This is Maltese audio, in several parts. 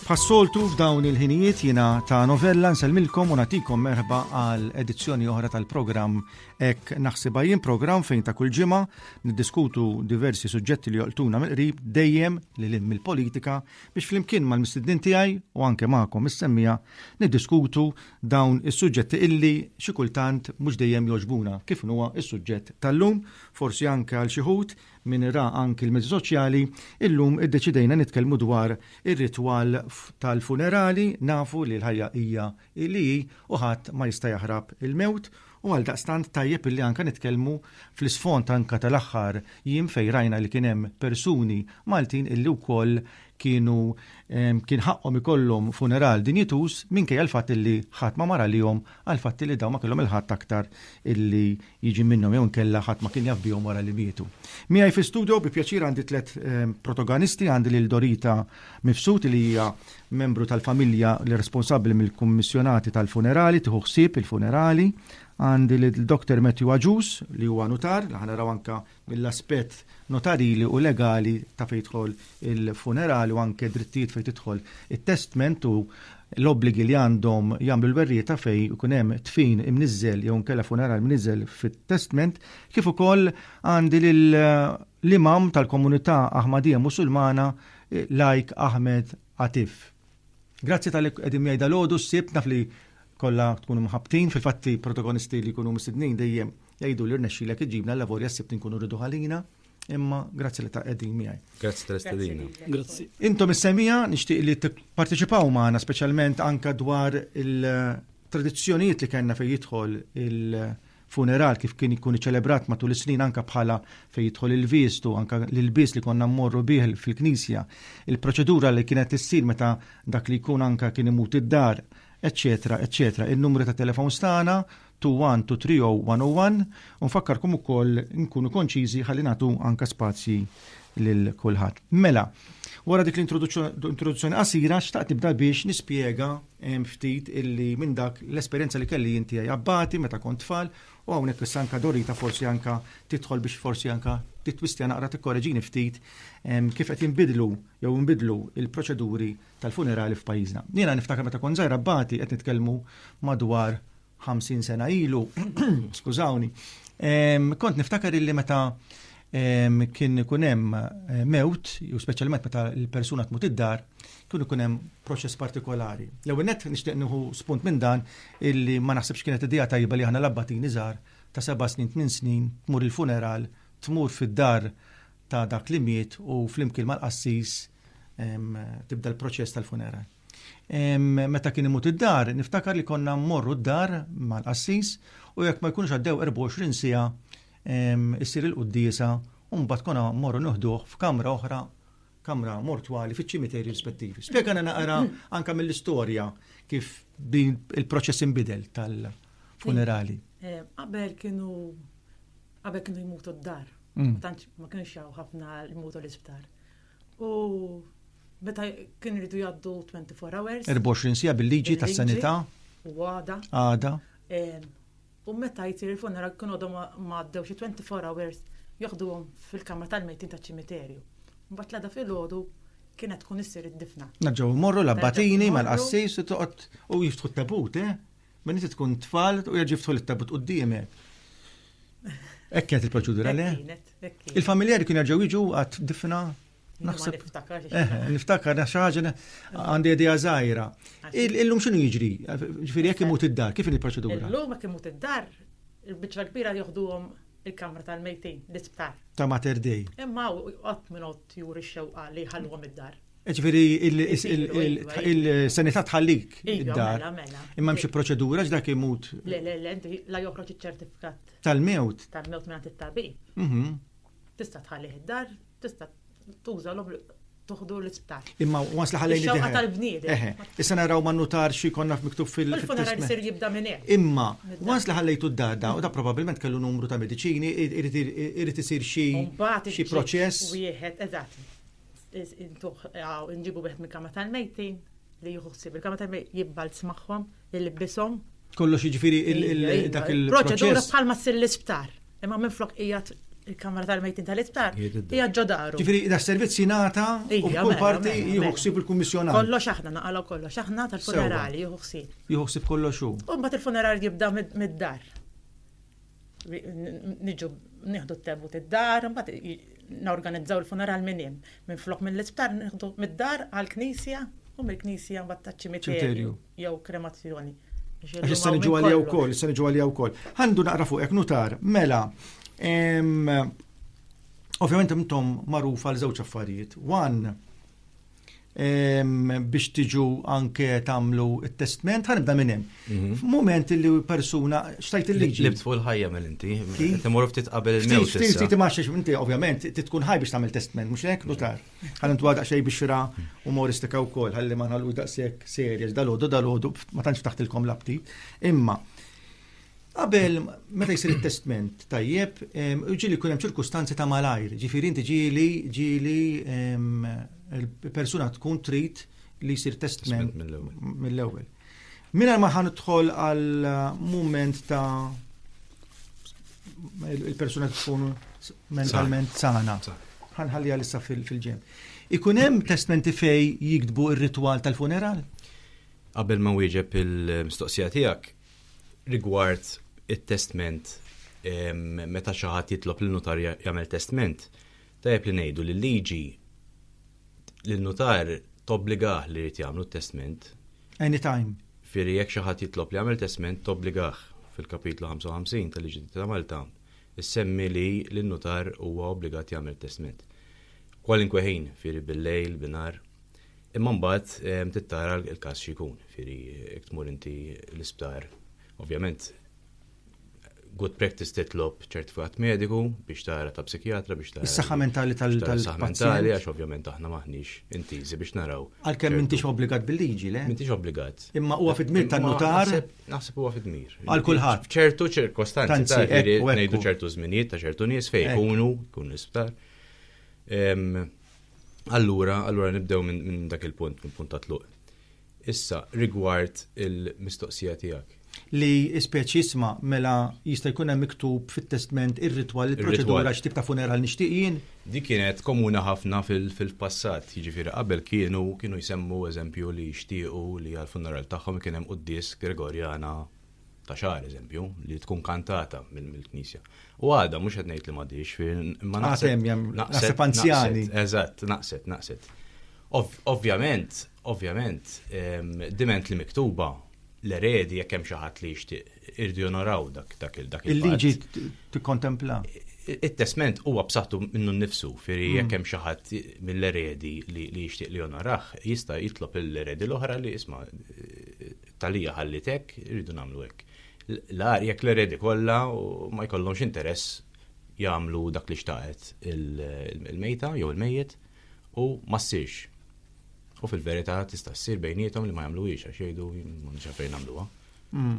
Passoltu f'dawn il-ħinijiet jina ta' novella nselmilkom u natikom merħba għal edizzjoni oħra tal-programm Ek naħsibha jien programm fejn ta' kull ġimgħa niddiskutu diversi suġġetti li joqtuna mill-qrib dejjem li lim mill-politika biex flimkien mal-mistednin tiegħi u anke magħkom is-semmija niddiskutu dawn is-suġġetti illi xi kultant mhux dejjem joġbuna kif huwa is-suġġett tal-lum forsi anke għal xi ħut Min ra anki l-mezzi soċjali, illum iddeċidejna nitkellmu dwar ir-ritwal tal-funerali, nafu li l-ħajja hija li hi u ħadd ma jista' jaħrab il-mewt u għaldaqstant tajjeb illi anke nitkellmu fl-isfond anke tal-aħħar jiem fejn rajna li kien hemm persuni Maltin illi wkoll kienu kien ħaqqhom ikollhom funeral dinjituż minkejja l-fatt illi ħadd ma mar għalihom għall-fatt illi dawn ma kellhom il-Ħadd aktar illi jiġi minnhom jew inkella ħadd ma kien jaf bihom wara li mietu. Miegħi fi studio bi pjaċir għandi tliet protogonisti, għandi lil Dorita Mifsud li hija membru tal-familja li responsabbli mill-kummissjonati tal-funerali, tieħu ħsieb il-funerali, għandi lil Dr. Matthew Aġus li huwa nutar, li ħanaraw anke mill-aspett notarili u legali ta' fejn jidħol il-funeral u anke drittijiet fejn tidħol it-testment u l-obbligi li għandhom jagħmlu l-werrijiet ta' fejn ikun hemm dfin imniżżel jew inkella funeral mniżżel fit-testment, kif ukoll għandi lill-Imam tal-Komunità Aħmadija Musulmana Lajk Ahmed Atif. Grazzi talli qegħdin miegħi dalgħodu s-Sibt, naf li kollha tkunu mħabbtin, fil-fatt protagonisti li jkunu mistednin dejjem Jgħiduli rnexxilek iġibna l-lavorja s-sibt inkunu rridu ħalina, imma grazzi li ta' qegħdin miegħi. Grazzi tal-istedina. Grazzi. Intom is-semija nixtieq li tipparteċipaw magħna speċjalment anka dwar il-tradizzjonijiet li kellna fejn jidħol il-funeral kif kien ikun iċelebrat matul is-snin anka bħala fejn jidħol il-vistu anka l-ilbies li konna mmorru bih fil-knisja, il-proċedura li kienet issir meta dak li jkun anka kien imut id-dar, eccetera, eccetera. Il-numru ta' telefon stana 21 to 30101 u nfakkarkom ukoll nkunu konċiżi ħalli nagħtu anka spazji lil kulħadd. Mela, wara dik l-introduzzjoni qasira xtaqt tibda biex nispjega ehm, ftit illi minn dak l-esperjenza li kelli inti għaj abbati meta kont tfal u hawnhekk issa anka Dorita forsi anka tidħol biex forsi anka titwistja naqra tikkoreġini ftit ehm, kif qed jinbidlu jew jinbidlu il-proċeduri tal-funerali f'pajjiżna. Jiena niftakar meta kont żgħira bati qed nitkellmu madwar 50 sena ilu, skużawni, kont niftakar illi meta kien ikun hemm eh, mewt, u speċjalment meta l-persuna tmut id-dar, kien ikun hemm proċess partikolari. L-ewwel nett nixtieq nieħu spunt minn dan illi ma naħsibx kienet idea tajba li aħna labbatin iżgħar ta' seba' snin, tmien snin, tmur il-funeral, tmur fid-dar ta' dak li miet u flimkien mal-qassis tibda l-proċess tal-funeral. Meta kien imut id-dar, niftakar li konna mmorru d-dar mal-qassis u jekk ma jkunx għaddew 24 sija issir il-quddisa u mbagħad konna mmorru nuħduh f'kamra oħra kamra mortwali fiċ-ċimiterji rispettivi. Spjegana naqra anka mill-istorja kif din il-proċess inbidel tal-funerali. Eh, qabel kienu Qabel kienu jmutu d-dar, mm. ma kienx jaw ħafna jmutu l-isptar. U meta kien rridu jaddu 24 hours. 24 sija bil-liġi tas sanità U għada. Għada. U meta jisir il-funeral kienu għadhom ma għaddew xi 24 hours joħduhom fil-kamra tal-mejtin taċ ċimiterju. Mbagħad l-għada fil-ħodu kienet tkun issir id-difna. Naġġaw morru l-abbatini mal-qassis u toqgħod u jiftħu t-tabut, eh? Minn inti tkun tfal u jaġi ftħol it-tabut qudiemek. Hekk kienet il-proċedura le? Il-familjari kien jaġew jiġu għad difna Naħseb. Eh, niftakar, xi ħaġa għandi idea żgħira. Illum x'inhu jiġri? Ġifieri jekk imut id-dar, kif il-proċedura? Illum jekk imut id-dar, il-biċċa kbira joħduhom il-kamra tal-mejtin, l-isptar. Ta' Mater Dei. Imma għat minn għot juri xewqa li ħalluhom id-dar. Ġviri, il-sanità tħallik iva, id-dar. Mela, mela. Imma mxie proċedura ġdak imut. Le, le, le, la joħroġ iċ-ċertifikat. Tal-mewt. Tal-mewt minn it-tabib. Mhm. Tista' tħalli id-dar, tista' tuża l tuħdu l-isptar. Imma was li ħallejni id-dar. tal-bniedem. Eħe, issa naraw ma nutar xi konna miktub fil funeral ser jibda minn hemm. Imma was li ħallejtu d-dar da, u da probabbilment kellu numru ta' mediċini, irid isir xi proċess. Wieħed, eżatt intuħ nġibu wieħed mill-kama tal-mejtin li jieħu ħsieb il-kama tal-mejtin jibbalz magħhom, jilbishom. Kollox jiġifieri dak il Proċedura bħalma ssir l-isptar. Imma minn flok hija il-kamra tal-mejtin tal-isptar hija ġodaru. Ġifieri da servizz jingħata u kull parti jieħu ħsieb il-kummissjonat. Kollox aħna naqalgħu kollox aħna tal-funerali jieħu ħsieb. Jieħu ħsieb kollox hu. U mbagħad il-funerali jibda mid-dar. niġu nieħdu t-tebu tid-dar, mbagħad norganizzaw il-funeral minn hemm. Minn flok mill-isptar nieħdu mid-dar għall-knisja u mill-knisja mbagħad taċ-ċimiterju jew kremazzjoni. Għax se niġu għalija wkoll, se niġu għalija wkoll. Għandu naqra fuq hekk nutar, mela. Ovvjament intom magħruf għal żewġ affarijiet. One, biex tiġu anke tagħmlu t-testment, ħanibda minn hemm. Mhm. F'mument li persuna xtajt il-liġi. Libt fuq il-ħajja minn inti, timur ftit qabel il-mewt. Ftit ftit imax inti ovvjament tkun ħaj biex tagħmel testment, mhux hekk nutar. Ħalli ntwa daqsxejn biex xira umoristika wkoll, ħalli ma nħallu daqshekk serjeż dalodu dalodu ma tantx taħtilkom l-aptit. Imma Qabel, meta jisir il-testment tajjeb, ġili kunem ċirkustanzi ta' malajr, ġifiri inti ġili ġili il-persuna tkun trit li jisir testment mill-ewel. Minna ma ħan tħol għal moment ta' il-persuna tkun mentalment sana. ħanħalli għalissa fil-ġem. Ikunem testmenti fej jikdbu il-ritual tal-funeral? Qabel ma wieġeb il-mistoqsija tijak, rigward it-testment meta xi ħadd jitlob lil nutar jagħmel testment, tajjeb li ngħidu li l-liġi lin nutar tobbligah li jrid jagħmlu t-testment. Anytime. Fieri jekk xi ħadd jitlob li jagħmel testment tobbligah fil-kapitlu 55 tal-liġi ta' Malta issemmi li lin nutar huwa obbligat jagħmel testment. Kwalinkwe ħin, fieri bil-lejl, binar, Imma mbagħad ehm, tittara l-każ xi jkun, fieri jekk tmur inti l-isptar. Ovvjament, good practice titlob ċertifikat mediku biex tara ta' psikjatra biex tara. Is-saħħa mentali tal-pazjent. Għax ovvjament aħna maħniex intiżi biex naraw. Għalkemm m'intix obbligat bil-liġi, le? M'intix obbligat. Imma huwa fid-dmir tan-nutar. Naħseb huwa fid-dmir. Għal kulħadd. ċertu ċirkostanzi ta' ngħidu ċertu żminijiet ta' ċertu nies fejn ikunu, jkunu l-isptar. Ehm, Allura, allura nibdew minn min dak il-punt, minn punt ta' tluq. Issa, rigward il-mistoqsija tiegħek. Li speċi jisma' mela jista' jkun hemm miktub fit-testment ir-ritwal il-proċedura x'tip ta' funeral nixtieq jien. Di kienet komuna ħafna fil-passat, jiġifieri qabel kienu kienu jsemmu eżempju li jixtiequ li għall-funeral tagħhom ikun hemm quddies Gregorjana ta' xar eżempju, li tkun kantata mill-Knisja. U għada, mux għed li madix, ma naqsem, naqseb anzjani. Eżat, naqset, naqset. Ovvjament, ovvjament, diment li miktuba l-eredi jekk hemm xi ħadd li jixtieq irdu jonoraw dak dak il dak il-liġi tikkontempla. It-testment huwa b'saħħtu minnu nnifsu, firri mm. jekk hemm xi ħadd mill-eredi li jixtieq li jonoraħ, jista' jitlob l-eredi l-oħra li isma' It-tagħlija ħalliet hekk, irridu nagħmlu hekk. L-agħar jekk l-eredi kollha ma jkollhomx interess jagħmlu dak li xtaqet il-mejta jew il-mejjet u ma ssirx. U fil-verità tista' ssir bejnietom li ma jagħmluhiex għax jgħidu ma nix għalfejn nagħmluha. Hmm.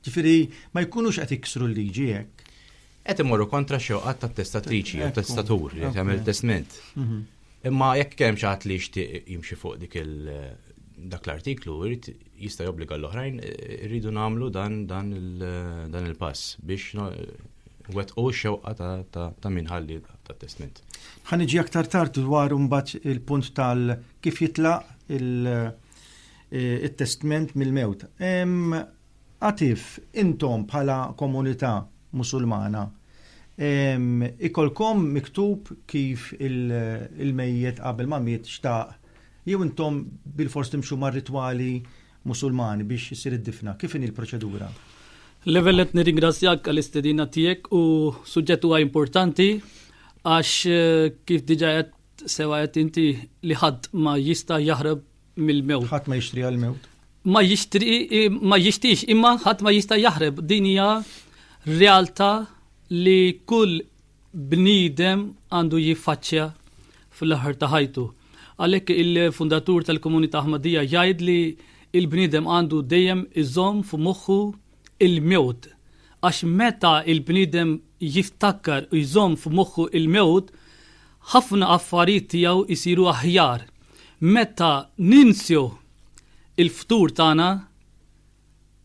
Ġifieri ma jkunux qed iksru l-liġi hekk. Qed imorru kontra xewqat tat-testatriċi jew testatur li tagħmel testment. Mhm. Imma jekk kien hemm xi ħadd li jixtieq jimxi fuq dik il dak l-artiklu jrid jista' jobbliga l-oħrajn irridu nagħmlu dan dan dan il-pass biex wettqu x-xewqa ta' min ħalli ta' testment. Ħaniġi aktar tard dwar imbagħad il-punt tal kif jitlaq il-testment mill-mewt. Għatif, intom bħala komunità Musulmana ikollkom miktub kif il-mejjet qabel ma miet xtaq jew intom bilfors timxu mar-ritwali Musulmani biex issir id-difna? Kif inhi l-proċedura? L-ewwel nett nirringrazzjak għall-istedina tiegħek u suġġett huwa importanti għax kif diġà qed sewa qed inti li ħadd ma jista' jaħrab mill-mewt. Ħadd ma jixtri għall-mewt. Ma jixtri ma jixtiex imma ħadd ma jista' jaħreb. Din hija realtà li kull bniedem għandu jiffaċċja fl-aħħar ta' ħajtu. Għalhekk il-fundatur tal-Komunità Ahmadija jgħid li il-bniedem għandu dejjem iżomm f'moħħu il-mewt, għax meta l-bniedem jiftakkar u jżomm f'moħħu l-mewt, ħafna affarijiet tiegħu jsiru aħjar. Meta ninsew il-futur tagħna,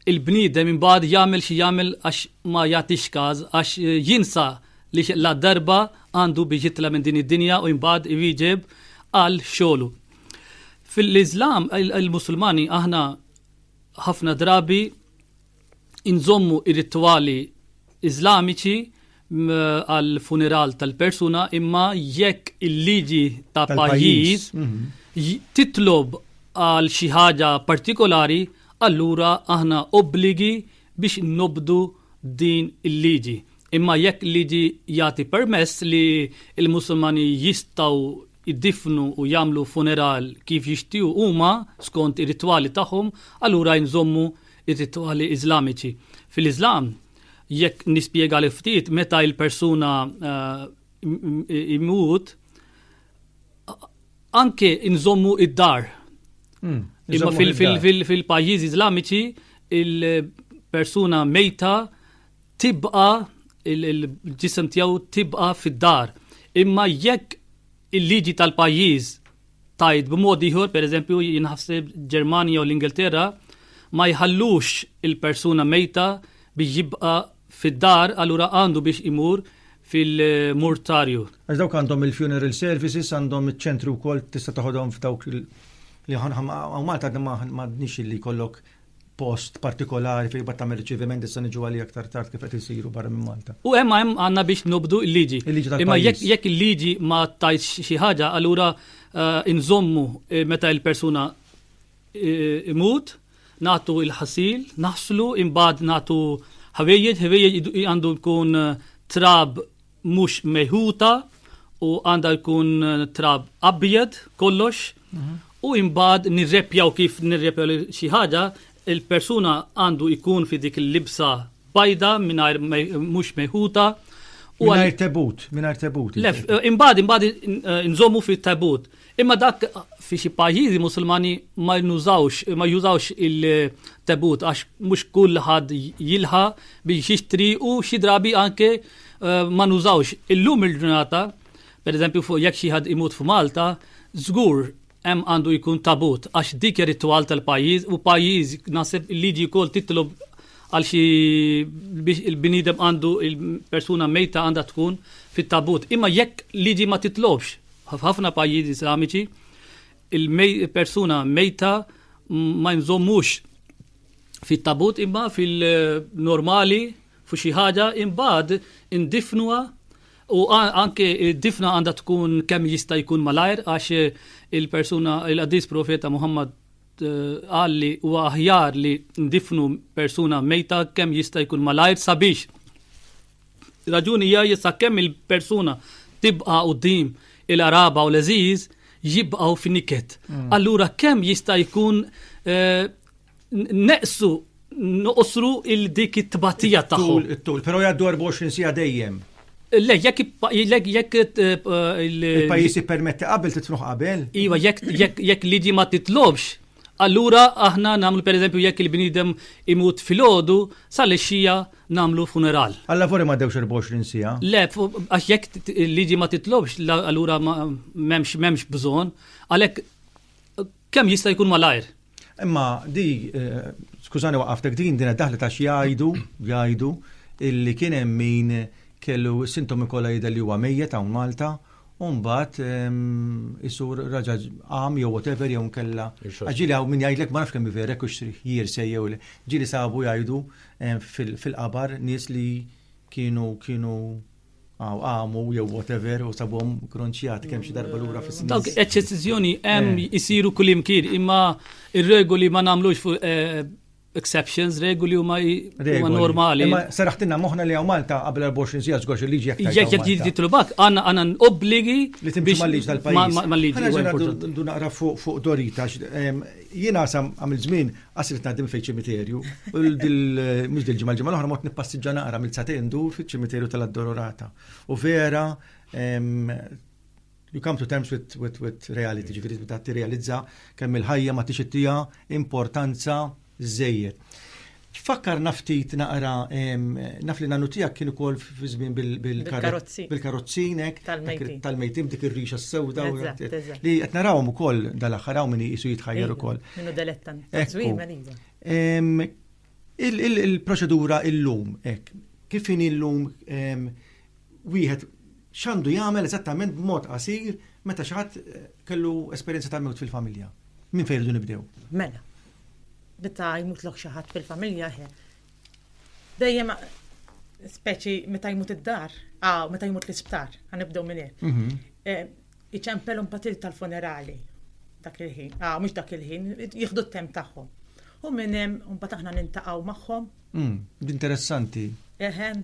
il-bniedem imbagħad jagħmel xi jagħmel għax ma jagħtix każ, għax jinsa li ladarba għandu biex jitla' minn din id-dinja u imbagħad iwieġeb għal xogħlu. Fil-Iżlam, il-Musulmani aħna Ħafna drabi inżommu ir-ritwali Iżlamiċi għal funeral tal-persuna imma jekk il-liġi ta' pajjiż mhm. titlob għal xi ħaġa partikolari, allura aħna obbligi biex nobdu din il-liġi. Imma jekk liġi jagħti permess li l-Musulmani jistgħu jiddiffnu u jagħmlu funeral kif jixtiequ huma skont ir-ritwali tagħhom, allura inżommu r-ritwali Iżlamiċi. Fil-Iżlam, jekk nispjegalek ftit, meta l-persuna jmut, anke inżommu d-dar. Imma fil-pajjiżi Iżlamiċi, il-persuna mejta tibqa' il-ġisem tiegħu tibqa' fid-dar. Imma jekk il-liġi tal-pajjiż tgħid b'mod ieħor, pereżempju jinħasseb Ġermanja u l-Ingilterra, ma jħallux il-persuna mejta biex jibqa' fid-dar, allura għandu biex imur fil-murtarju. Għax dawk għandhom il-funeral services, għandhom iċ-ċentri wkoll tista' toħodhom f'dawk li ħanħam Malta għadna m'għadniex li jkollok post partikolari fejn bat tagħmel riċeviment issa niġu għalih aktar tard kif qed isiru barra minn Malta. U hemm hemm għandna biex nobdu l-liġi. Il-liġi tal-pajjiż. Imma jekk jekk il-liġi ma tajx xi ħaġa, allura eh, inżommu eh, meta il-persuna eh, imut, nagħtu il-ħasil, naħslu, imbagħad nagħtu ħwejjeġ, ħwejjeġ idu- għandu jkun eh, trab mhux mejħuta u għandha jkun trab abjed kollox mhm. u imbagħad nirrepjaw kif nirrepjaw xi ħaġa il-persuna għandu jkun fi dik il-libsa bajda mingħajr mhux mejħuta. Mingħajr tebut, mingħajr tebut. Lef, eh, imbagħad imbagħad eh, nżommu fit-tebut. Imma dak fi xi pajjiżi Musulmani ma jnużawx ma jużawx il-tebut għax mhux kull ħadd jilħa biex jixtri u xi drabi anke eh, ma nużawx. Illum il-ġurnata, pereżempju fuq jekk xi ħadd imut f'Malta, żgur hemm għandu jkun tabut għax dik ritwal tal-pajjiż u pajjiż naħseb il-liġi wkoll titlob għal xi biex il-bnidem għandu il-persuna mejta għandha tkun fit-tabut. Imma jekk liġi ma titlobx F'ħafna pajjiżi Islamiċi, il-persuna mejta ma jinżommux fit-tabut imma fil-normali fu xi ħaġa imbagħad indifnuha u anke difna għandha tkun kemm jista' jkun malajr għax il-persuna il-qadis profeta Muhammad eh, qal li huwa aħjar li ndifnu persuna mejta kemm jista' jkun malajr sabiex Raġuni hija li sakemm il-persuna tibqa' quddiem il-qraba u l-għeżież jibqgħu f'niket. Mm. Allura kemm jista' jkun eh, neqsu noqosru il dik it-tbatija tagħhom. It-tul, però jgħaddu 24 sija dejjem. Le, jekk jekk eh, il-pajjiż jippermetti qabel titfruħ qabel. Iva, jekk liġi ma titlobx Allura aħna nagħmlu pereżempju jekk il-bniedem imut filgħodu, sal-għexija nagħmlu funeral. Għal-lavori ma dewx 24 siegħa? Le, għax jekk il-liġi ma titlobx, allura m'hemmx m'hemmx bżonn, għalhekk kemm jista' jkun malajr. Imma di, eh, skużani waqaftek din din daħlet għax jgħidu, jgħidu illi kien hemm min kellu sintomi kollha jidher li huwa mejjet hawn Malta u mbagħad isur raġa għam jew whatever jew nkella. Ġili hawn min jgħidlek ma nafx kemm verek u jir se jew le. Ġili sabu jgħidu fil-qabar nies li kienu kienu għaw għamu jew whatever u sabhom kronċjat kemm xi darba lura fis snin Dawk eċċezzjoni hemm eh. isiru kull imkien imma ir-regoli ma nagħmlux fuq eh, exceptions, regoli huma normali. Ma saraħtina moħna li għaw Malta qabel 24 sija zgoċ il-liġi jek. Jek jek jek titlubak, għanna għanna obbligi li timxu mal-liġi tal-pajis. Mal-liġi. Għanna naqra fuq Dorita, jina sam għamil zmin għasrit nadim fej ċimiterju, mux dil-ġimma l-ġimma l-ħra mot nippassiġġa naqra mill-satendu fil-ċimiterju tal-addororata. U vera, You come to terms with, with, with reality, ġifiri ta' realizza kemm il-ħajja ma tix ittija importanza żejjed. Fakkar naftit naqra, naf li nanu tijak kienu kol fizmin bil-karozzinek, tal-mejtim dik il-rixa s-sewda, li għet narawm u kol dal-axħaraw minni jisu jitħajjar u kol. Minnu delettan. Il-proċedura il-lum, kif in il-lum wieħed X'għandu jagħmel eżattament b'mod qasir meta xi ħadd kellu esperjenza tal-mewt fil-familja? Minn fejn irridu nibdew? Mela, meta jmutlok xi ħadd fil-familja, dejjem speċi meta jmut id-dar, ah, meta jmut l-isptar, ħanibdew minn hekk. Mhm. Eh, iċempel un patil tal-funerali dak il-ħin, ah, mhux dak il-ħin, jieħdu t-temp tagħhom. U minn hemm mbagħad aħna nintaqgħu magħhom. Mm, interessanti. Eħen.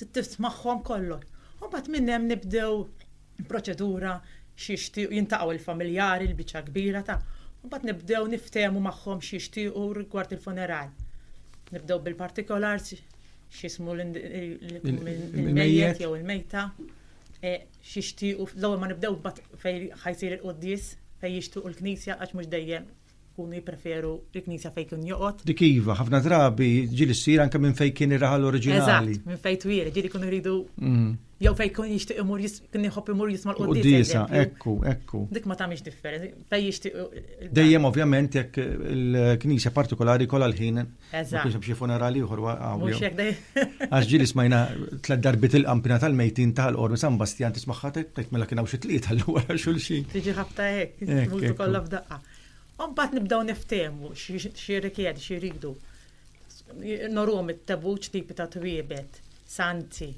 Tismagħhom kollox. U mbagħad minn hemm nibdew proċedura x'jixtiequ, jintaqgħu l-familjari, l-biċċa l-kbira ta', u mbagħad nibdew niftehmu magħhom x'jixtiequ rigward il-funeral. Nibdew bil-partikolars, x'jismu l-mejjet jew il-mejta, e, x'jixtiequ, l-ewwel ma nibdew fejn ħajsir il-quddies, fejn jixtiequ l-knisja għax mhux dejjem Ikunu jippreferu l-knisja fejn kien joqgħod. Dik iva, ħafna drabi ġieli ssir anke minn fejn kien ir-raħal oriġinali. Eżatt, minn fejn twil, ġieli jkunu jridu mm. jew fejn kien jixtieq imur kien jħobb imur jisma' l-quddiesa. Ekku, ekku. Dik ma tagħmilx differenza, fejn jixtieq. Dejjem ovvjament jekk il-knisja partikolari kollha l-ħin Eżatt. Ma kienx hemm xi funeral ieħor Għax ġieli smajna tliet darbit il-qampina tal-mejtin tal-qormi San Bastjan tismagħha tgħid mela kien hawn xi tlieta l wara xulxin. Tiġi ħabta hekk, multu kollha f'daqqa. U mbagħad nibdew niftehmu x'jirrikjedi, x'iridu. Norhom it-tebuċ tipi ta' twiebet, sanzi,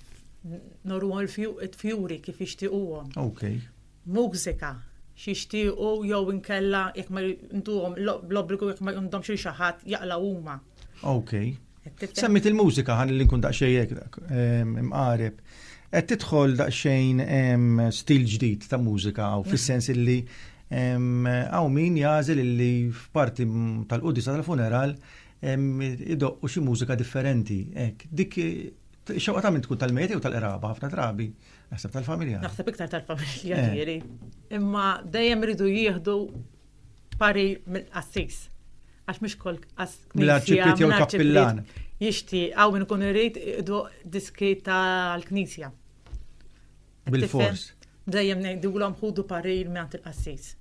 norhom il-fjuri kif jixtiequhom. Okay. mużika, xi jixtiequ jew inkella jekk ma jduhom bl-obbligu jekk ma jqumdomx il xi ħadd jaqla' huma. Okej. Semmit il-mużika ħalli nkun daqsxejn hekk dak ehm, imqareb. Qed tidħol daqsxejn ehm, stil ġdid ta' mużika hawn fis-sens illi ehm, hawn min jażel illi f'parti tal-qudisa tal-funeral idoqqu xi mużika differenti. Hekk, dik xewqa ta' minn tkun tal-mejt jew tal-qraba ħafna drabi. Naħseb tal-familja. Naħseb iktar tal-familja eh. ġieri. Imma dejjem iridu jieħdu pari mill-qassis. Għax mhux kol Mill-arċipiet jew kappillan. Jixti, għaw minn kun irrid diski tal-knisja. Bil-fors. Dejjem ngħidulhom ħudu parir minn il-qassis.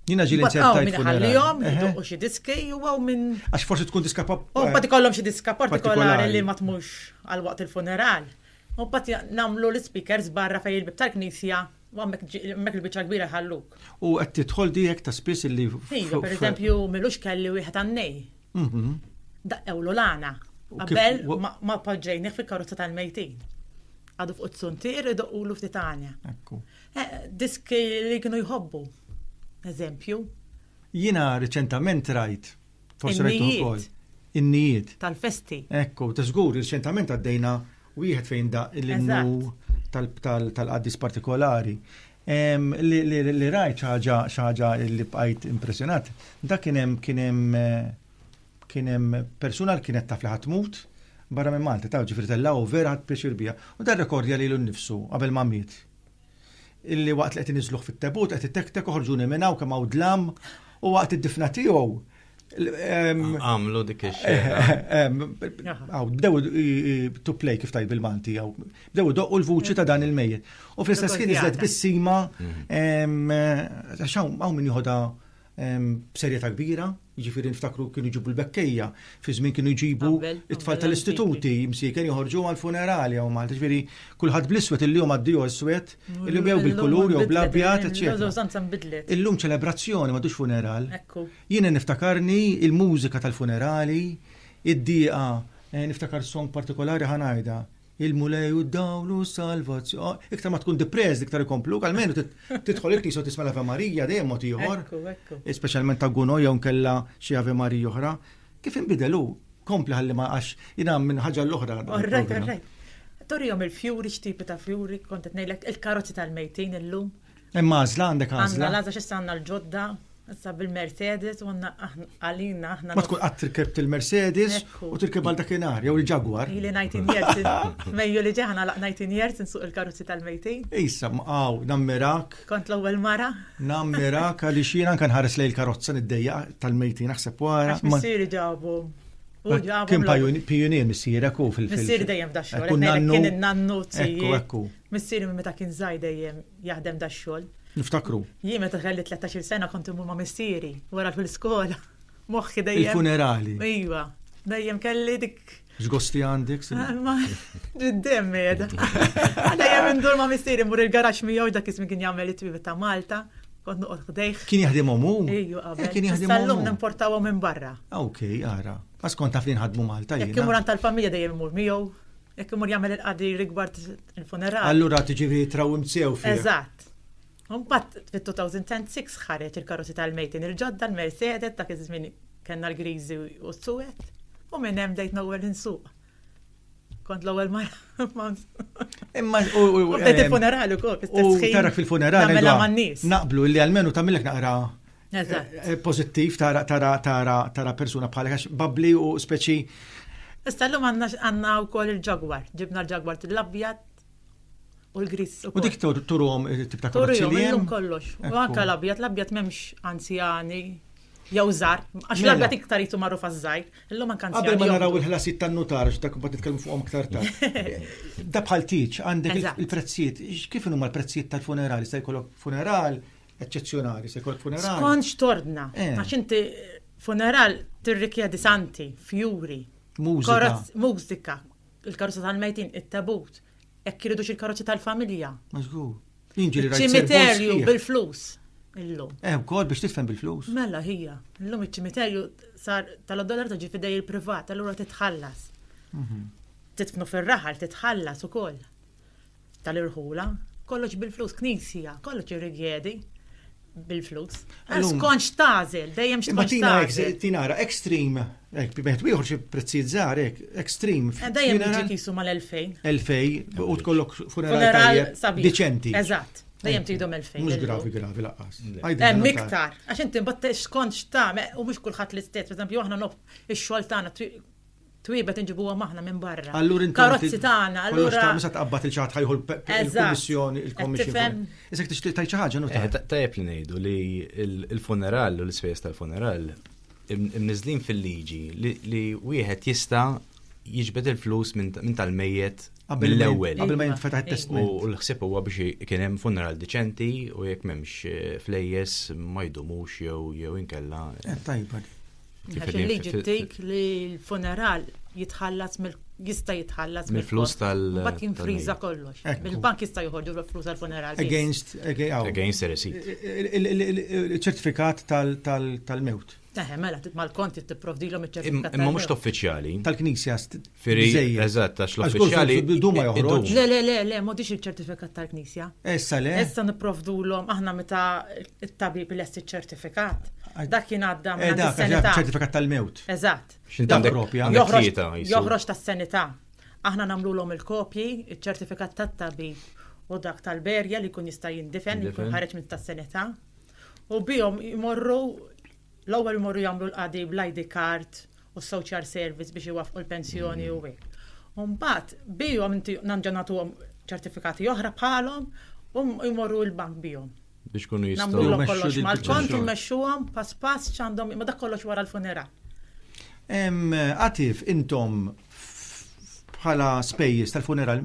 Jina ġili ċerta jtfunilhom, u xi diski u għaw minn. Għax forsi tkun diska pop. U eh, pati kollom xi diska partikolari li ma tmux għal waqt il-funeral. U mbagħad nagħmlu l-ispikers barra fejn il-bieb tal-knisja u hemmhekk hemmhekk il-biċċa l-kbira jħalluk. U qed tidħol di hekk ta' spiss illi f- Iva, f- per eżempju, milux kelli wieħed għannej. Mhm. Daqqewlu l-għana. U kif- Qabel wa- ma- ma poġġejnih fil-karozza tal-mejtin. Għadu fuq it-suntier idoqqulu ftit għanja. Ekku. Eh, Diski li kienu jħobbu. Eżempju. Jiena riċentament rajt In-nijiet. In-nijiet. Tal-festi. Ekku, ta' żgur, riċentament għaddejna wieħed fejn da l-innu tal-qaddis partikolari. Li rajt ħaġa ħaġa li bqajt impressjonat, da kien hemm kien hemm kien hemm persuna li kienet taf li ħatmut barra minn Malta, taf ġifieri tellgħu vera ħadd pjaċir biha. U da rekordja lilu nnifsu qabel ma miet. illi waqt li qed iniżluh fit-tebut qed itektek oħorġuni minn hawn kemm hawn dlam u waqt id-difna tiegħu għamlu dik Għaw, bdew to play kif tajt bil-Malti, għaw, bdew doqqu l-vuċi ta' dan il-mejjet. U fl-istess kien iżlet bissima, għaxaw, għaw minn juħoda b'serjeta kbira, Jiġifieri niftakru kienu jġibu l-bekkejja, fi żmien kienu jġibu it-tfal tal-istituti, msieken joħorġu għal funerali u Malta. Ġifieri kulħadd bl-iswed illum għaddiju iswed, illum jew bil-kulur jew bl-abjad, eċċetera. Illum ċelebrazzjoni m'għadux funeral. Jiena niftakarni il-mużika tal-funerali, id-dieqa, niftakar song partikolari ħa ngħidha. Il-Mulej u d-dawl u s-salvazzjoni. Iktar ma tkun depressed, iktar ikomplu, għalmenu tidħol il-knisja u tisma' l-Ave Marija dejjem mod ieħor. Speċjalment ta' Guno jew nkella xi Ave Marija oħra. Kif inbidel hu? Kompli ħalli ma għax jiena minn ħaġa l-oħra. Orrejt, orrejt. Torihom il-fjuri, x'tipi ta' fjuri, kont qed ngħidlek il-karozzi tal-mejtin illum. Hemm għażla għandek għażla. Għandna l-għażla x'issa għandna l-ġodda, issa bil-Mercedes u għandna għalina aħna. Ma tkun qatt tirkeb il-Mercedes u tirkeb għal dakinhar jew il-Jaguar. Ili 19 years, mejju li ġeħna laq 19 years insuq il-karozzi tal-mejtin. Issa mqaw nammirak. Kont l-ewwel mara. Nammirak għaliex jiena kan ħares lejn il-karozza niddejja tal-mejtin naħseb wara. Missieri ġabu. Kien pajunier missierek u fil-fil. Missieri dejjem f'daxxu. Kien nannu. Ekku, ekku. Missieri minn meta kien żgħir dejjem jaħdem da xogħol. Niftakru. Jien meta kelli 13-il sena kont immur ma' missieri wara l skola Moħħi dejjem. Il-funerali. Iva, dejjem kelli dik. X'gosti għandek? Ma, ġiddem meda. Dejjem indur ma' missieri mur il-garax miegħu dak ismi kien jagħmel it-twib ta' Malta kont noqgħod ħdejh. Kien jaħdem omu? Ejju, qabel. Kien jaħdem omu. Sallum nimportawhom minn barra. Ah, ok, ara. Għas kont taf li nħadmu Malta. Jekk imur tal-familja dejjem imur miegħu. Jekk imur jagħmel il-qadi rigward il-funeral. Allura tiġifieri jitraw imsew fih. Eżatt. Mbagħad fit-2006 ħareġ il-karozzi tal-mejtin il-ġodda l-Mercedes dak iż-żmien kellna l-griżi u s-suwed u minn hemm bdejt nowwel insuq. Kont l-ewwel mara. Imma u bdejt il-funeral ukoll. U taraf fil-funeral. Mela man-nies. Naqblu li għalmenu tagħmilek naqra Eh, pozittiv tara tara tara tara persuna bħal għax babli u speċi. Issa llum għandna għandna wkoll il-ġagwar, ġibna l-ġagwar l-abjad u l-gris. U dik turum eh, tip ta' karozzi li hemm. kollox. U anke l-abjad, l-abjad m'hemmx anzjani jew żar, għax mela. l-abjad iktar jitu magħruf għaż-żgħir, illum anke anzjani. Qabel ma naraw il-ħlasijiet tan-nutar, dak bad nitkellmu fuqhom iktar tard. Da bħal tiġ għandek il-prezzijiet, kif huma l-prezzijiet tal-funeral, jista' jkollok funeral, eċċezzjonali, se jkollok funeral. Skont x'tordna, eh. għax inti funeral tirrikjedi santi, fjuri, mużika, mużika, il-karozza tal-mejtin, it-tabut, hekk iridu il-karozza tal-familja. Mażgur. Ċimiterju bil-flus. Illum. Eh, kod biex tifhem bil-flus. Mela hija, illum iċ-ċimiterju sar tal-dollar ta' ġifidej il-privat, allura titħallas. Mhm. Titfnu fir-raħal, titħallas ukoll. tal-irħula, kollox bil-flus, knisja, kollox irrigedi bil-flus. Ma skonx tażel, dejjem x'tkonx tażel. Tinara extreme, bieħed wieħor xi prezzijiet żgħar hekk, extreme. Eh, dejjem jiġi kisu mal-2000. 2000 u tkollok funeral deċenti. Eżatt. Dejjem tidhom 2000. Mhux gravi gravi laqqas. Hemm eh, iktar, għax inti mbagħad x'kont x'tagħmel u mhux kulħadd l-istess, pereżempju aħna nof ix-xogħol tagħna twibet inġibuhom aħna minn barra. Allura inti karozzi tagħna, allura ta' misa tqabbad il-ċaħat ħajħu l-Kummissjoni, il-Kommissjoni. Isek tixtieq tgħid xi ħaġa nu eh, Tajjeb li ngħidu li l-funeral u l-ispejjeż tal-funeral imniżlin fil-liġi li wieħed jista' jiġbed il-flus minn tal-mejjet mill-ewwel. Qabel ma jinfetaħ it-testament. U l-ħsieb huwa biex kien hemm funeral deċenti u jekk m'hemmx eh, flejjes ma jdumux jew jew inkella. Eh, tajba. Għax il-liġi tgħid li l-funeral jitħallas jista' jitħallas mill-flus tal bat jinfriża kollox. Il-bank jista' joħorġu l-flus tal-funeral. Against against receipt. Ċertifikat tal-mewt. Eħe, mela, mal-kont tipprovdilhom iċ-ċertifikat. Imma mhux uffiċjali. Tal-Knisja Firi, eżatt, għax l-uffiċjali. Duma joħroġ. Le, le, le, le, modix il-ċertifikat tal-knisja. Issa le. Issa niprovdu l-om, aħna meta il-tabib l essi ċertifikat. Dak jien għadda eh, minn tas-senità. ċertifikat tal-mewt. Eżatt. Xinta propja. Joħroġ tas-senità. Aħna namlu l-om il-kopji, il-ċertifikat tat-tabib u dak tal-berja li kun jista' jindifen, li kun ħareġ minn tas-senità. U bihom jmorru l-ewwel jmorru jagħmlu l-qadi bl-ID card u s-social service biex iwaffqu l-pensjoni u hekk. U mbagħad bihom inti nerġa' nagħtuhom ċertifikati oħra bħalhom u jmorru l-bank bihom. Biex ikunu jistgħu. Nagħmluhom kollox mal-kont u mmexxuhom pass pass x'għandhom ma dak kollox wara l-funeral. Għatif, intom bħala spejjeż tal-funeral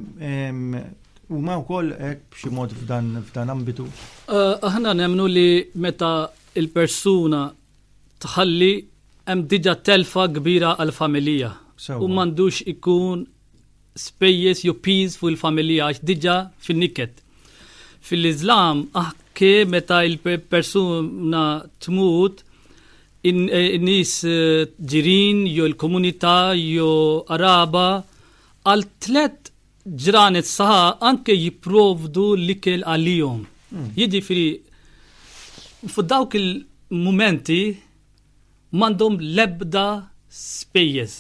huma wkoll hekk b'xi mod f'dan ambitu? Aħna nemmnu li meta il-persuna tħalli hemm diġà telfa kbira għall-familija u m'għandux ikun spejjeż jew piż fuq il-familija għax diġà fin-niket. Fil-Iżlam anke meta il-persuna tmut in-nies ġirien jew il-komunità jew qaraba għal tliet Ġranet saħa anke jipprovdu l-ikel għalihom. Hmm. Jiġifieri fuq dawk il-mumenti m'għandhom l-ebda spejjeż.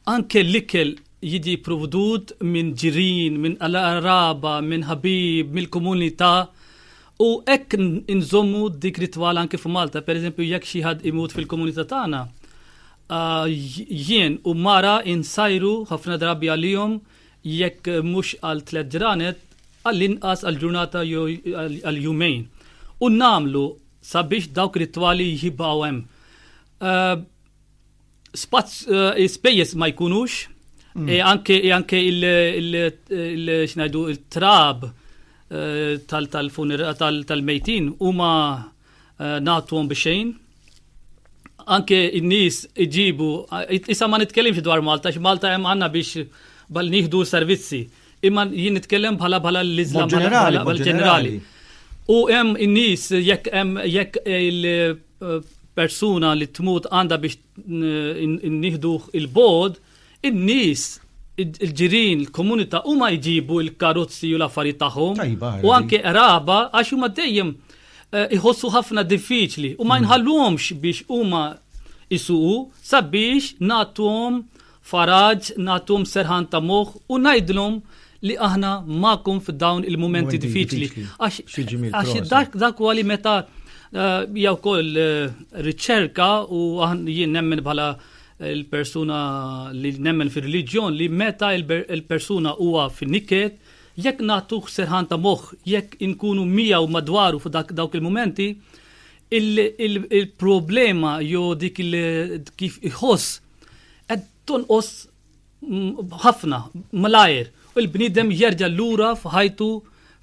Anke l-ikel jiġi provdut minn ġirin, minn qraba, minn ħabib, mill-komunità. U hekk nżommu dik ritwal anke f'Malta, pereżempju jekk xi ħadd imut fil-komunità tagħna, Jien u mara insajru ħafna drabi għalihom jekk mhux għal tliet ġranet għall-inqas għal ġurnata jew għal jumejn. U nagħmlu sabiex dawk ir-ritwali jibqgħu hemm. Spejjeż ma jkunux, e anke e anke il-xnajdu il-trab tal-mejtin huma Eh, nagħtuhom bi xejn. Anke n-nies iġibu, eh, issa ma nitkellimx dwar Malta, x'Malta hemm għandna biex bal nieħdu servizzi. Imma jien nitkellem bħala bħala l-Islam ġenerali. U hemm in-nies jekk hemm jekk il-persuna eh, li tmut għandha biex nieħdu il-bod, in-nies il-ġirin, il-komunità huma jġibu l-karozzi u l-affarijiet tagħhom u anke qraba għax huma dejjem eh, iħossu ħafna diffiċli u ma mm. jinħallhomx biex huma isuqu sabiex nagħtuhom Faraġ nagħthom serħan ta' moħħ u ngħidlhom li aħna magħkom f'dawn il-mumenti diffiċli. Għax dak dak huwa li meta eh, jew kol eh, riċerka u jien nemmen bħala il-persuna li nemmen fil-reliġjon li meta il-persuna huwa fin-niket jekk nagħtuh serħan ta' moħħ, jekk inkunu miegħu madwaru fuq dak dawk il-momenti, il-problema jew dik kif iħoss qed tonqos ħafna malajr u l-bniedem jerġa' lura f'ħajtu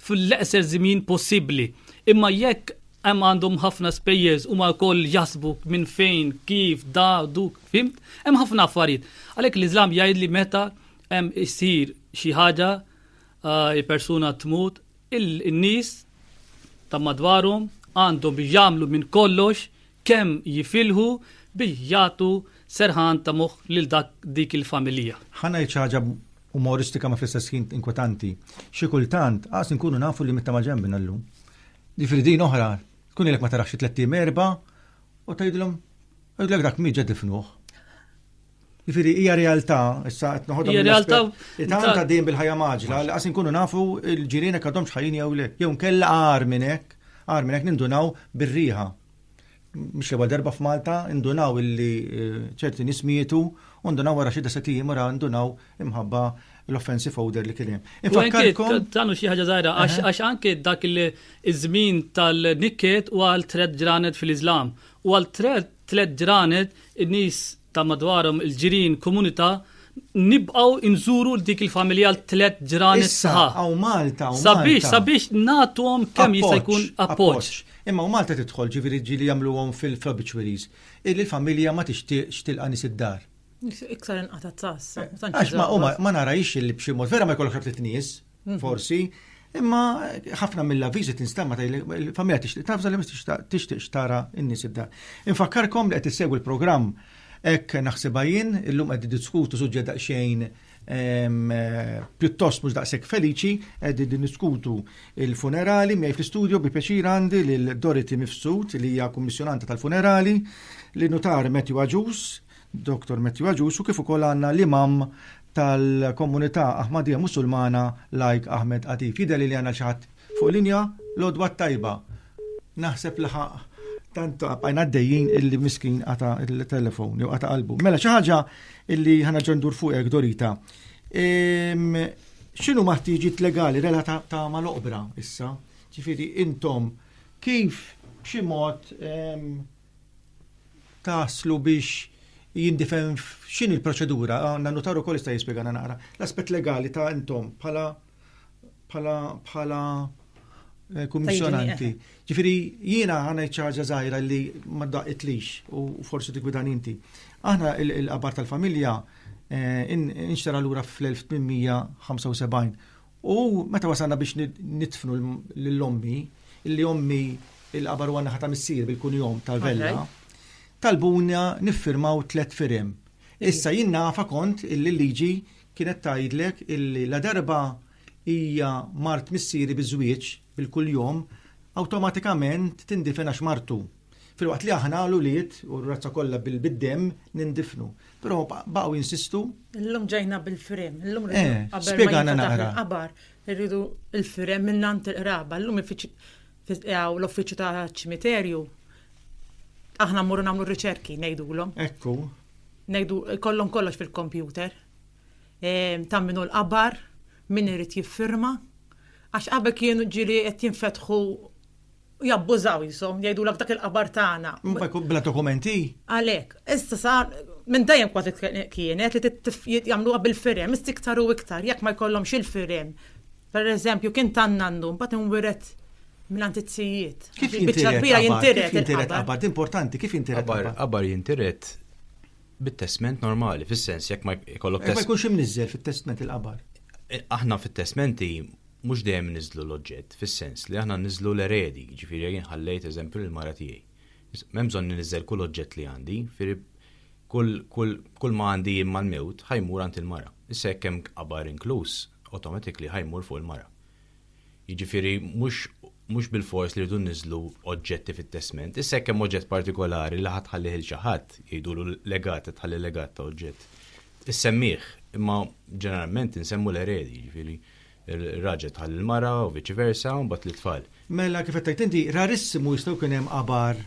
fl-eqser żmien possibbli. Imma jekk hemm għandhom ħafna spejjeż huma wkoll jaħsbu minn fejn, kif, da, duk, fimt, hemm ħafna affarijiet. Għalhekk l-Iżlam jgħid li meta hemm isir xi ħaġa ah, il-persuna tmut, in-nies ta' madwarhom għandhom jagħmlu minn kollox Kemm jifilħu bi jagħtu serħan ta' moħħ lil dak dik il-familija. Ħa ngħid xi ħaġa umoristika ma fl-istess ħin inkwetanti. Xi kultant qas inkunu nafu li mitta ma ġembna llum. Ġifieri din oħra tkun ilek ma tarax xi tliet erba' u tgħidilhom Għidlek dak mi ġed ifnuħ. Ġifiri, hija realtà, issa qed noħodha. Hija realtà. Tanta dejjem bil-ħajja maġla, li qas inkunu nafu l-ġirien hekk għadhomx ħajjin jew le. Jew nkella għar minn hekk, għar minn hekk nindunaw bir-riħa. Mhux l darba f'Malta, indunaw illi eh, ċerti nies mietu, u ndunaw wara xi deset ijiem wara ndunaw imħabba l-offensive order li kien hemm. Infakkarkom. Tanu xi ħaġa żgħira għax anke dak il-żmien tal-nikket u għal tred ġranet fil-Iżlam u għal tred tliet ġranet, in-nies ta' madwarhom, il-ġirien, komunità, nibqgħu nżuru l dik il-familja l-tliet ġranet sħaħ. Hawn Malta, hawn Sabiex, Malta. sabiex nagħtuhom kemm jista' Appoġġ, jkun appoġġ. appoġġ. Imma u Malta tidħol ġifieri ġieli jagħmluhom fil-obituaries. Illi l-familja ma tixtieqx tilqa' nies id-dar. Iktar inqata' tass. Għax ma huma ma narajx li b'xi mod vera ma jkollokx ħadd nies. Mhm. Forsi, imma ħafna mill-avviżi tinstema ta' il-familja tixtieq tafza li tixtieq tara n-nies id-dar. Infakkarkom li qed issegwi l-programm hekk naħsibha jien, illum qed diskutu suġġett daqsxejn eh, pjuttost mhux daqshekk feliċi, qed diskutu il-funerali miegħi fl-istudju bi pjaċir għandi lil Dorothy Mifsud li hija kummissjonanta tal-funerali, li nutar Matthew Aġus, Dr. Matthew Aġus u kif ukoll għandna l-imam tal-Komunità Ahmadija Musulmana Lajk Ahmed Atif. Jidher li għandna xi ħadd fuq linja l-għodwa t-tajba. Naħseb li ħaq tant għajna għaddejjin illi miskin għata il-telefon, jew għata qalbu. Mela, xaħġa illi ħana ġendur fuqek, Dorita. Xinu maħtiġit legali relata ta' mal-oqbra issa? ċifiri, intom, kif b'xi mod taslu biex jindifem x'in il-proċedura, għanna notaru kol jista' jispjegana naqra. L-aspett legali ta' intom bħala bħala bħala eh, kummissjonanti. Ġifiri, jiena għana ċaġa zaħira li ma daqitlix u forsi tikwidan inti. Aħna il-qabar tal-familja eh, inxtara l-ura fl-1875 U meta wasalna biex nidfnu lil ommi, illi ommi il-qabar huwa naħa ta' missier bil-kunjom ta' Vella, talbuna niffirmaw tliet firem. Issa jien nafa kont illi l-liġi kienet tgħidlek illi ladarba hija mart missieri biż-żwieġ bil-kunjom, awtomatikament tindifen għax martu. Filwaqt li aħna l-ulied u r-razza kollha bil-demm nindifnu. Però baqgħu jinsistu. Illum ġejna bil-firem, illum eh, spjegana naqra. Qabar, irridu l-firem minn għand il-qraba, illum l-uffiċċju ta' ċimiterju aħna mmorru nagħmlu riċerki ngħidulhom. Ekku. Ngħidu kollhom kollox fil-kompjuter. Ehm, Tamminu l-qabar, min irid jiffirma. Għax qabel kienu ġiri qed jinfetħu u jabbużaw jisom, jgħidulek dak il-qabar tagħna. Imma jkun bla dokumenti. Għalhekk, issa sa minn dejjem kważi kienet li jagħmluha bil-firem, issa iktar u iktar jekk ma jkollhomx il-firem. Per eżempju, kien tan nannu mbagħad inwiret minn antizzijiet. Kif jintiret? Jintiret qabar, importanti, kif jintiret? Qabar jintiret bit-testment normali, fis-sens jekk ma jkollok testment. Ma jkunx imniżżel fit-testment il-qabar. Eh, aħna fit-testmenti mhux dejjem iniżżlu l-oġġett, fis-sens li aħna nniżżlu l-eredi, jiġifieri jien ħallejt, eżempju, lill-mara tiegħi. M'hemm bżonn niniżżel kull oġġett li għandi, jiġifieri kull, kull, kull ma għandi jien mal-mewt ħa jmur għand il-mara. Issa jekk hemm qabar inkluż, automatically ħa jmur fuq il-mara. Jiġifieri mhux, mhux bilfors li rridu nniżżlu oġġetti fit-testment. Issa jekk hemm oġġett partikolari li ħa tħallih lil xi ħadd, jgħidulu legat, qed tħalli legat ta' oġġett, issemmih, imma ġeneralment insemmu l-eredi, jiġifieri. Ir-raġel tħalli l-mara u viċi versa, u mbagħad lit-tfal. Mela kif qed tgħid inti, rarissimu jista' jkun hemm qabar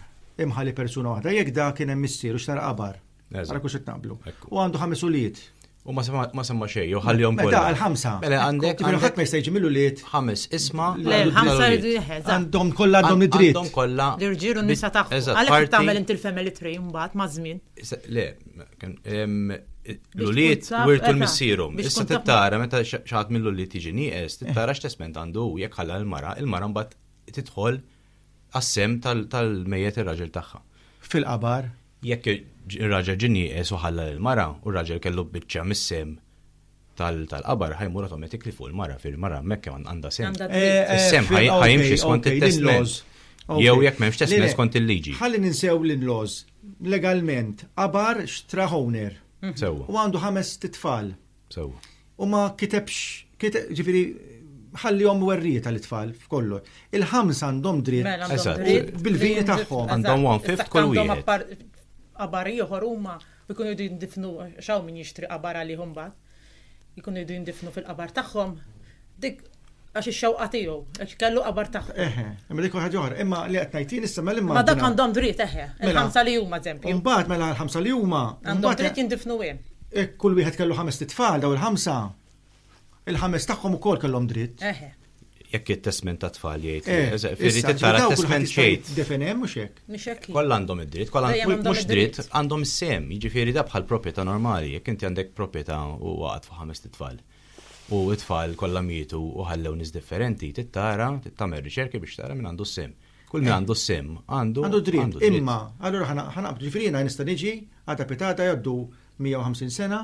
imħalli persuna waħda, jekk dak kien hemm missieru x'nara qabar. Ara kux qed naqblu. U għandu ħames ulied. U ma semma xejn, jew ħallihom kollha. Mela l-ħamsa. Mela għandek. Ġifieri ħadd ma jista' jiġi mill-ulied. Ħames isma. Le l-ħamsa jridu jeħeż. Għandhom kollha għandhom id-dritt. Għandhom kollha. L-irġiel u n-nisa tagħhom. Għalhekk tagħmel inti l-family tree mbagħad maż-żmien. Le, l-uliet wirtu l-missierum. Issa tittara meta xaħat mill-uliet tiġi nieqes, tittara x'tesment għandu jekk ħalla l-mara, il-mara mbagħad tidħol għas-sem tal-mejjet ir-raġel tagħha. Fil-qabar? Jekk ir-raġel ġin nieqes u ħalla l-mara u r-raġel kellu biċċa mis-sem tal-qabar ħajmur automatically fuq il-mara fil-mara hemmhekk kemm għandha sem. Sem ħajimxi skont it-testment. Jew jekk m'hemmx testment skont il-liġi. Ħalli ninsew l-inlaws. Legalment, qabar xtra owner. Mhm. Sewa. U għandu ħames titfal. Sewa. U ma kitebx, ġifiri, ħallihom werrieta l tfal f'kollu. Il-ħams għandhom dritt mela, bil-vini tagħhom. Għandhom one fifth kull wieħed. Qabar ieħor huma u jkunu jridu jindifnu għax hawn min jixtri qabar għalih imbagħad, jkunu jridu jindifnu fil-qabar tagħhom, dik għax ix-xewqa tiegħu, għax kellu qabar tagħhom. Eħe, imma dik ħaġa oħra, imma li qed ngħid jien issa mela imma. Ma dak għandhom dritt eħe, mela. il-ħamsa li huma eżempju. Imbagħad mela l-ħamsa li huma. Għandhom dritt jindifnu hemm. Kull wieħed kellu ħames tfal daw il-ħamsa. Il-ħames tagħhom ukoll kellhom dritt. Eħe. Jekk it-testment ta' tfal jgħid. Eh, issa, Firri ġifieri tara dawk testment il-ħadd jgħid. jista' jiddefinehem mhux hekk. Mhux hekk. hi. Kollha għandhom id-dritt, kollha Dejjem għandhom mhux id-dritt. dritt, għandhom sem, jiġifieri da bħal proprjetà normali, jekk inti għandek proprjetà u waqgħet fuq ħames tfal. U t-tfal kollha mietu u ħallew nies differenti, tittara, tagħmel riċerki biex tara min għandu sem. Kull min għandu sem għandu Għandu dritt, imma, allura ħana- ħanaqbdu ġifieri jiena nista' niġi, għada pitata jgħaddu 150 sena,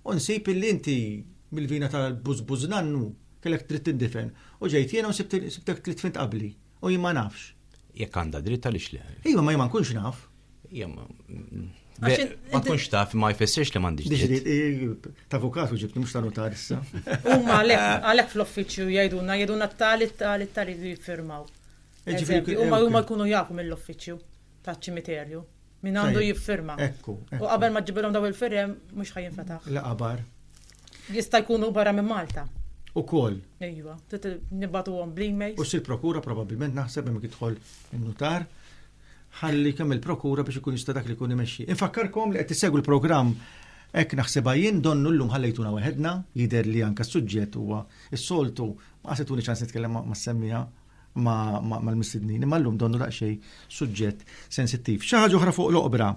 U nsib illi inti, mill-vina ta' l-bużbuż nannu, kellek dritt tindifen. U ġejt jiena u sibtek tliet fint qabli. U jien ma nafx. Jekk għandha dritt għaliex le? Iva, ma jien ma nkunx naf. Iva, ma. Ma tkunx taf, ma jfessirx li m'għandix dritt. Ta' avukat u ġibni mhux ta' notar issa. Huma għalhekk fl-uffiċċju jgħidulna, jgħidulna tal tal tal iridu jiffirmaw. Huma jkunu jafu mill-uffiċċju. taċ-ċimiterju. Min għandu jiffirma. Ekku. U qabel ma ġibilhom daw il-firem mhux ħajjin fetaħ. La qabar. Jista' jkunu barra minn Malta. U koll. Ejwa, nibatu għom bl-email. U si prokura probabilment naħseb hemm jidħol in-nutar ħalli kemm il-prokura biex ikun jista' dak li jkun imexxi. Infakkarkom li qed tissegwu l-programm Ek naħseba jien donnu l-lum ħallejtuna weħedna, jider li anka suġġett huwa s-soltu, ma għasetuni ċans nitkellem ma' semmija mal-mistednin, imma llum donnu daqsxejn suġġett sensittiv. Xi ħaġa oħra fuq l-oqbra.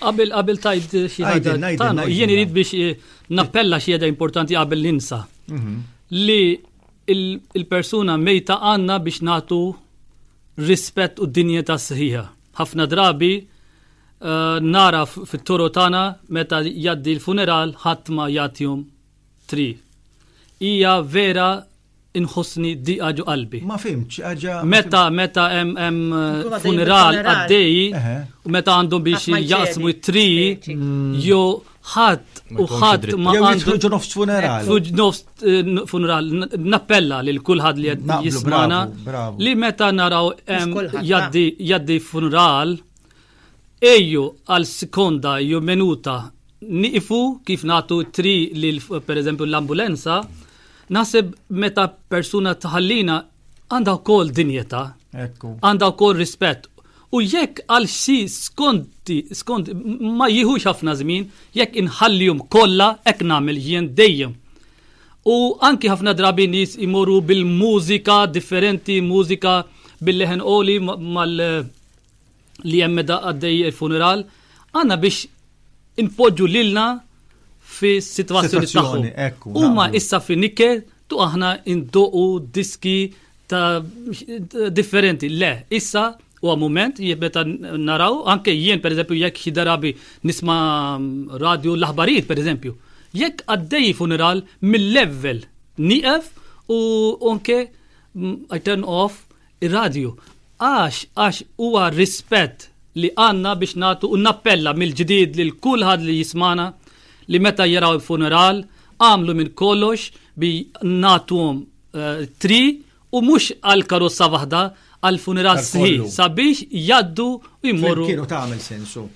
Qabel qabel tajt xi ħaġa tagħna, jien irid biex eh, nappella xi ħaġa importanti qabel ninsa. Mhm. Li il-persuna mejta għandna biex nagħtu rispett u dinjeta sħiħa. Ħafna drabi eh, nara fit-toro tagħna meta jaddi l-funeral ħadd ma jagħtihom tri. Hija vera inħossni diqa ġo qalbi. Ma fimx, xi ħaġa. Meta meta hemm funeral għaddej u meta għandhom biex jaqsmu t-tri jew ħadd u ħadd ma għandu ġo nofs funeral. Nofs eh, funeral nappella lil kulħadd li qed jismana li meta naraw jaddi funeral Ejju għal skonda jew menuta nieqfu kif nagħtu tri lil pereżempju l-ambulenza, naħseb meta persuna tħallina għandha wkoll dinjeta, għandha wkoll rispett. U jekk għal xi skonti, skont ma jieħux ħafna żmien, jekk inħallihom kollha hekk nagħmel jien dejjem. U anki ħafna drabi nies imorru bil-mużika differenti, mużika bil-leħen oli mal- li hemm meta għaddej il-funeral, għandna biex inpoġġu lilna fi situazzjoni tagħhom. Huma issa fi nikke tu aħna indoqu diski ta' differenti. Le, issa u għamument jibbeta naraw, anke jien per eżempju jekk xi darabi nisma radio l-aħbarijiet per eżempju. Jekk għaddej funeral mill-level nieqef u anke I turn off ir-radju għax għax huwa rispett li għandna biex nagħtu u nappella mill-ġdid lil kulħadd li jismana li meta jaraw il-funeral għamlu minn kollox bi nagħtuhom eh, tri u mhux għal karossa waħda għal funeral sħi sabiex jaddu u jmorru. Kienu tagħmel sensu.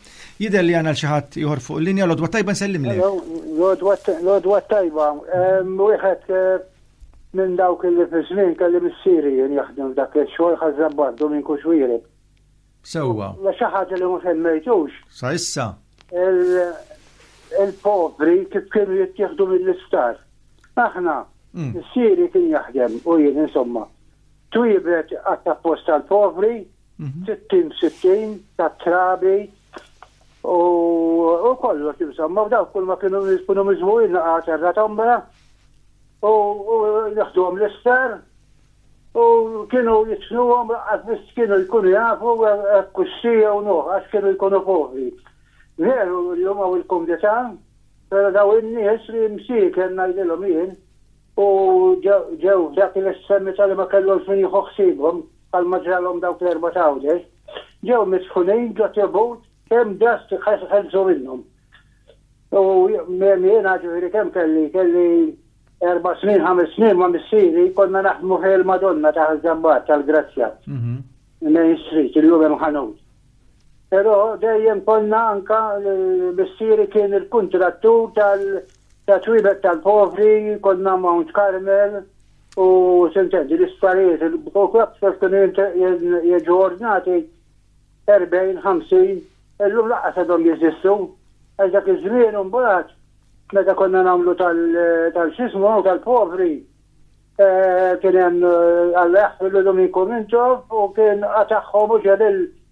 Jider li għana l-xaħat jħor fuq l-linja l-odwa tajba nsellim li. L-odwa tajba. Wieħed eh, Minn dawk illi fi żmien kelli missieri jien jaħdem f'dak ix-xogħol ħaż-żabbar Duminku Xwiereb. Sewwa. Hija xi ħaġa li ma semmejtux. Sa issa. Il-povri kif kienu jittieħdu mill-isptar. Aħna, missieri kien jaħdem u jien insomma, twiebet qatt apposta għall-povri, Sittin b'sittin ta' trabi u kollox insomma, u dawk kull ma kienu jkunu miżmuqin naqa' terra tombra u jaħduhom l-ister u kienu jitfnuhom għax biss kienu jkunu jafu kuxxi jew nuħ għax kienu jkunu povri. Veru llum hawn il-kumdità, però daw in-nies li msieken ngħidilhom jien u ġew f'dak il-estremita li ma kellhomx min jieħu ħsiebhom, bħalma ġralhom dawk l-erbgħat Għawdex, ġew misħunin ġo tribut kemm ġast ħelsu minnhom. U jiena ġifieri kemm kelli, kelli erba' snin, ħames snin ma' missieri konna naħdmu fih il-Madonna ta' Ħaż-Żabbar tal-Grazzja, Main Street, illum hemm ħanut. Però dejjem konna anke missieri kien il-kuntrattur tat-twielet tal-povri, konna Mount Carmel, u tintendi l-isptarijiet il-Bco Clubs kif kienu jiġu ordnati 40, 50, illum laqqas għadhom jeżistu. Għax dak iż-żmien imbagħad meta konna nagħmlu tal-xismu tal-povri eh, kien hemm eh, Alla jaħfirlu Dominko Mintov u kien qatagħhom u ġelil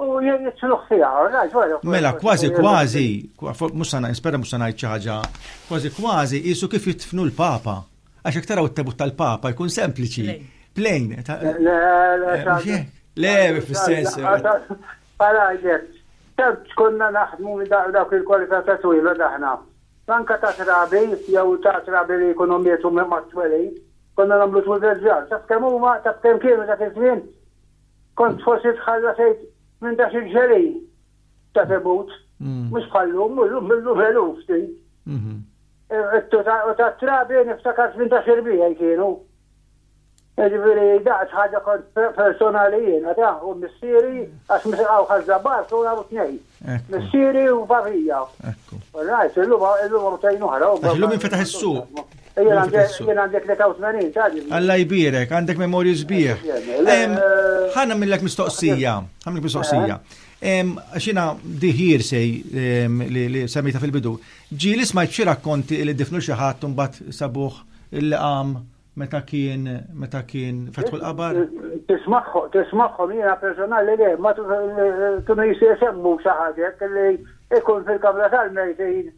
U jien nitluħ fija, rajt, wara. Mela, kważi kważi, mhux sana nispera mhux sana xi ħaġa, kważi kważi qisu kif jitfnu l-Papa. Għax jekk taraw it-tebut tal-Papa jkun sempliċi, plain. Le, le, le, fis-sens. Parajek, tant konna naħdmu dawk il-kwalità ta' twila daħna. Anka ta' trabi, jew ta' trabi li jkunu mietu ma' twelin, konna nagħmlu twil reġġar. Taf kemm huma, taf kemm kienu dak iż-żmien? Kont forsi tħalla tgħid minn dak il-ġelin ta' tebut, mhux bħal lum, illum illum eluf tgħid. U tat-trabi niftakart minn dak irbigħi kienu. Jiġifieri daqt ħaġa kont personali jiena ta' u missieri għax meta qgħu ħażża bark u qgħu tnejn. Missieri u barrija. Ekku. Rajt, illum illum għam tajn uħra. Illum infetaħ is-suq. Jien għandek li 80 tagħdi. Alla jbirek, għandek memorju sbieħ. Ħana millek mistoqsija, ħana millek mistoqsija. Xina diħir sej li semmita fil-bidu. Ġili smajt xi rakkonti li difnu xi ħadd mbagħad sabuħ il-qam Meta kien, meta kien fetħu l-qabar? Tismagħhom, tismagħhom jiena personali le, ma kienu jistgħu jsemmu xi ħaġa hekk li jkun fil-kamra tal-mejtin,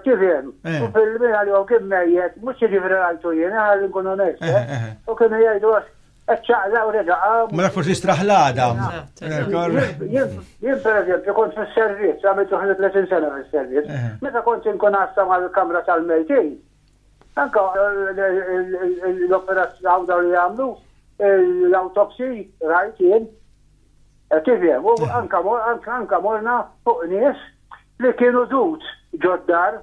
tifhem, eh. u fil-min għalihom kien mejjet, mhux jiġifieri rajtu jien, eh, ħalli nkun onest, eh, eh, u kienu jgħidu għax ċaqla u reġa għam. Mela forsi straħlada. Jien per eżempju kont fil-servizz, għamilt uħli 30 sena fil-servizz. Meta kont inkun għassa mal-kamra tal-mejtin, Anke l-operazzjoni dawn li jagħmlu l-autopsy rajt jien. Eh, tifhem, u eh. anke morna fuq nies li kienu dut ġoddar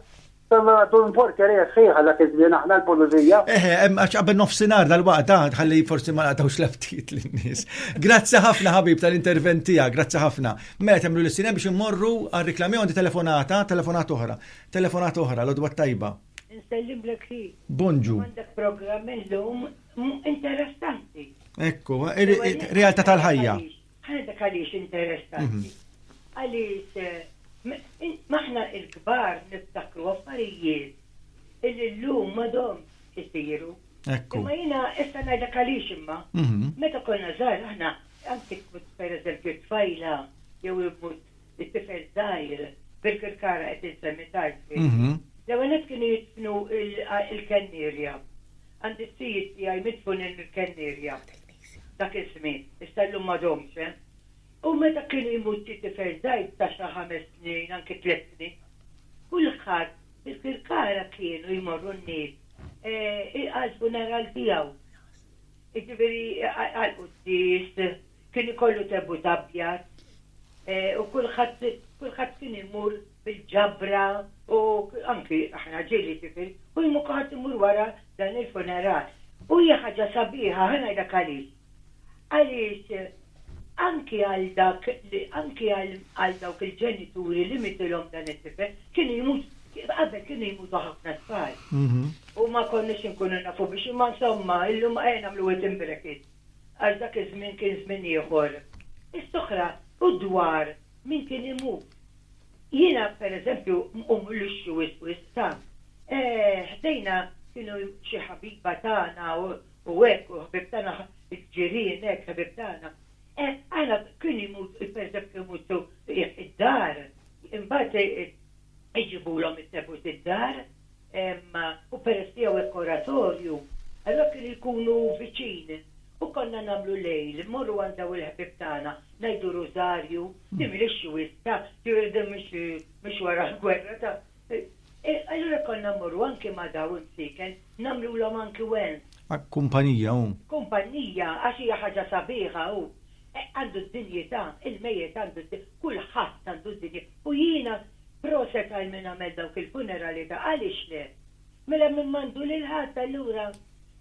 Għaddu l-porterija sħiħa dak iż-żmien aħna l-pulizija. Eħe, eh, għax qabel nofsinhar dal-waqt dan ah, ħalli forsi ma naqtawx leftit lin-nies. Grazzi ħafna ħabib tal-intervent tiegħek, grazzi ħafna. Mela temlu l-sinem biex immorru għal reklami għandi telefonata, telefonat oħra. Telefonata oħra, L-għodwa t-tajba. Insellimlek hi. Bonġu. Għandek programm illum interessanti. Ekku, realtà tal-ħajja. Ħa dak għaliex interessanti. Għaliex aħna l-kbar niftakru affarijiet illi llum m'għadhomx isiru. Ekku. Imma jiena issa ngħidlek għaliex imma. Meta konna żgħar aħna, anki tmut pereżempju tfajla jew imut It-tifel żgħir, bil-kirkara qed insemmi tard f'ħejti. L-ewwel nett kienu jidfnu il-Kennierja. Għandi s-sijiet tiegħi midfunin mill-Kennierja. Dak iż-żmien. Issa llum m'għadhomx, eh. U meta kien imut xi tifel żgħir ta' xi ħames snin, anki tliet snin, kulħadd bil-kirkara kienu jmorru n-nies għall-funeral tiegħu. Jiġifieri għall-quddies, Kien ikollu tebut abjad u kulħadd kulħadd kien imur bil-ġabra u anki aħna ġieli jiġifieri u jmur kulħadd imur wara dan il-funeral. U hija ħaġa sabiħa, ħa ngħidlek għaliex. Għaliex anki għal dak li anki għal għal dawk il-ġenituri li mietilhom dan it-tifel kienu jmut qabel kienu jmutu ħafna tfal. U ma konniex inkunu nafu biex imma insomma illum ejja nagħmlu waiting bracket. Għax dak iż-żmien kien żmien ieħor. Is-sokra u d-dwar min kien imut. Jiena, per eżempju, nqum lixxi wisq wisq ta'. Ħdejna kienu xi ħabiba tagħna u hekk u ħbieb tagħna il-ġirien hekk ħbieb tagħna. Aħna kien imut, per eżempju kien imut sew id-dar, imbagħad iġibulhom it-tebut id-dar. u peress li hawn hekk oratorju, allura kienu jkunu viċin u konna nagħmlu lejl, immorru għand dawn il-ħbieb tagħna, ngħidu rużarju, li mhiex xwiss ta', din mhix wara l-gwerra ta', allura konna mmorru anki ma' dawn imsieken, nagħmlulhom anki wens. Kumpanija, hu. Kumpanija, għax hija ħaġa sabiħa, hu. Għandu d-dinjità, il-mejjet għandu d-, kulħadd għandu d-dinjità. U jiena, proset għal min għamel dawk il-funerali ta' għaliex le? Mela min m'għandu lil ħadd allura?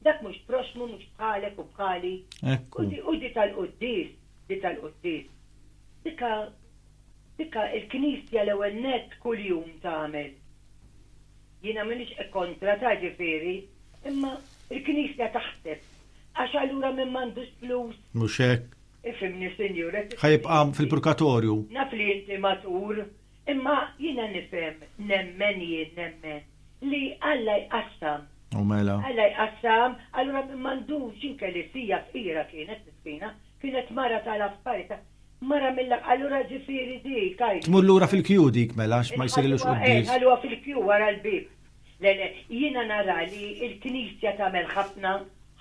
Dak mhux proxxmu, mhux bħalek u bħali. Ekku. U di tal-quddies, di tal-quddies, dikha, dikha il-Knisja l-ewwel nett kuljum tagħmel. Jiena m'iniex kontra ta ġifieri, imma l-Knisja taħseb, għax allura min m'għandux flus. Mhux hekk. Ifhimni Sinjur, qed tifhimni inti. Ħa jibqa' fil-purkatorju. Naf li inti matur, imma jiena nifhem, nemmen jien, nemmen, li Alla jqassam. U mela. Alla jqassam, allura min m'għandux il-Kelisija fqira kienet miskina, kienet mara tal-affarita, Mara mill-. Allura ġifieri dik, għid. Tmur lura fil-kju dik mela għax ma jsirilux Inħalluha, eh, quddies. nħalluha fil-kju wara l-bieb. Le, le, jiena nara li l-Knisja tagħmel ħafna,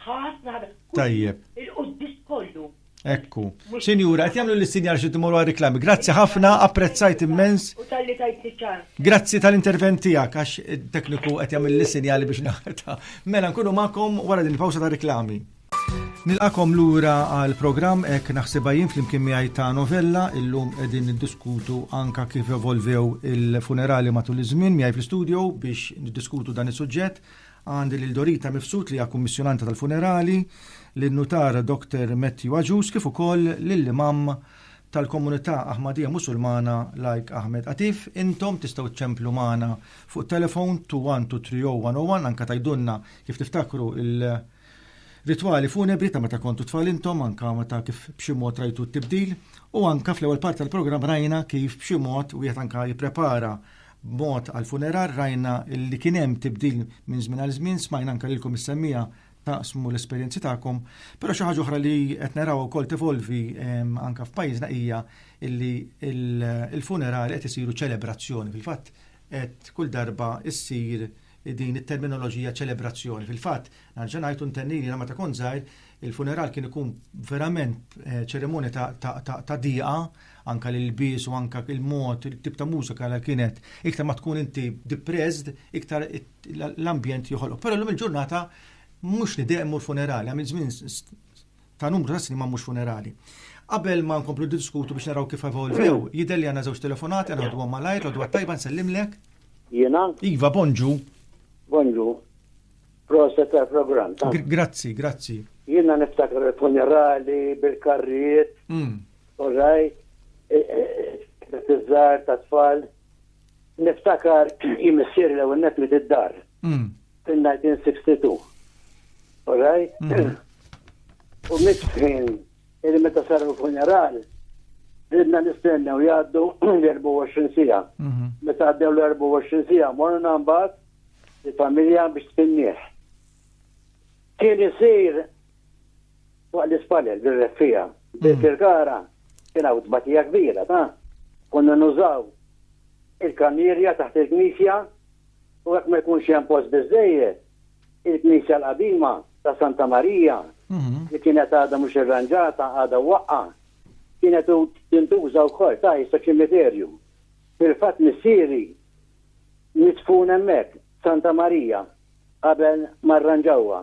ħafna, ħafna, kull. Tajjeb. Il-quddies kollu. Ekku. Mhux. Sinjura, qed jagħmlu lis-sinjal xi timur għal riklami. Grazzi ħafna, apprezzajt immens. U talli tajtni ċans. Grazzi tal-intervent tiegħek għax it-tekniku qed jagħmel lis-sinjali biex naħta. Mela nkunu magħkom wara din il-pawsa ta' riklami. Nilqakom lura għal programm hekk naħsibha jien flimkien miegħi ta' novella illum qegħdin niddiskutu anka kif evolvew il-funerali matul iż-żmien miegħi fl-istudio biex niddiskutu dan is-suġġett. Għandi lil Dorita Mifsud li hija kummissjonanta tal-funerali, lil nutar Dr. Matthew Aġus kif ukoll lill-imam tal-komunità Aħmadija Musulmana Lajk Ahmed Atif. Intom tistgħu ċċemplu magħna fuq telefon 21230101 anka tajdunna kif tiftakru il- Ritwali funebri ta' meta kontu tfal intom, anke meta kif b'xi mod rajtu t-tibdil, u anke fl-ewwel parti tal-programm rajna kif b'xi mod wieħed anke jipprepara b'mod għall-funeral, rajna li kien hemm tibdil minn żmien għal żmien, smajna anke lilkom is-semmiegħa taqsmu l-esperjenzi tagħkom, però xi ħaġa oħra li qed narawha wkoll tevolvi anke f'pajjiżna hija li l-funerali qed isiru ċelebrazzjoni, fil-fatt qed kull darba ssir din it-terminoloġija ċelebrazzjoni. Fil-fatt, nerġa' ngħid u ntenni li jiena meta kont żgħir, il-funeral kien ikun verament eh, ċeremonja ta', ta, ta, ta diqa, anka l-ilbies u anka il-mod, il-tip ta' mużika li kienet. Iktar ma tkun inti depressed, iktar l-ambjent joħolok. Però l-lum il-ġurnata mhux nidehmu l-funerali, għamil żmien ta' numru ta' snin ma' mhux funerali. Qabel ma nkomplu diskutu biex naraw kif evolvew, jidher li għandna żewġ telefonati għal ħduhom malajr, l-għodwa tajba nsellimlek. Jiena? Iva, bonġu. Bonġu. Proset għal programm. Grazzi, grazzi. Jiena niftakar il-funerali bil-karrijiet. Mm. All right. Tizzar e, e, e, ta' tfal. Niftakar jimissir l-ewwel li d-dar. Fin-1962. All right? U mistħin illi meta saru l-funeral, ridna nistennew jgħaddu l-24 sija. Meta għaddew l-24 sija, morna mbagħad il-familja biex tfinnieh. Kien isir fuq l-ispallel bil-reffija. Bil-kirkara kien hawn tbatija kbira ta' konna nużaw il-kamierja taħt il-knisja u jekk ma jkunx hemm post biżżejjed, il-knisja l-qadima ta' Santa Marija, li kienet għadha mhux irranġata, għadha mwaqqgħa, kienet tintuża wkoll ta' issa ċimiterju. Fil-fatt missieri midfun hemmhekk, f'Santa Marija, qabel ma rranġawha.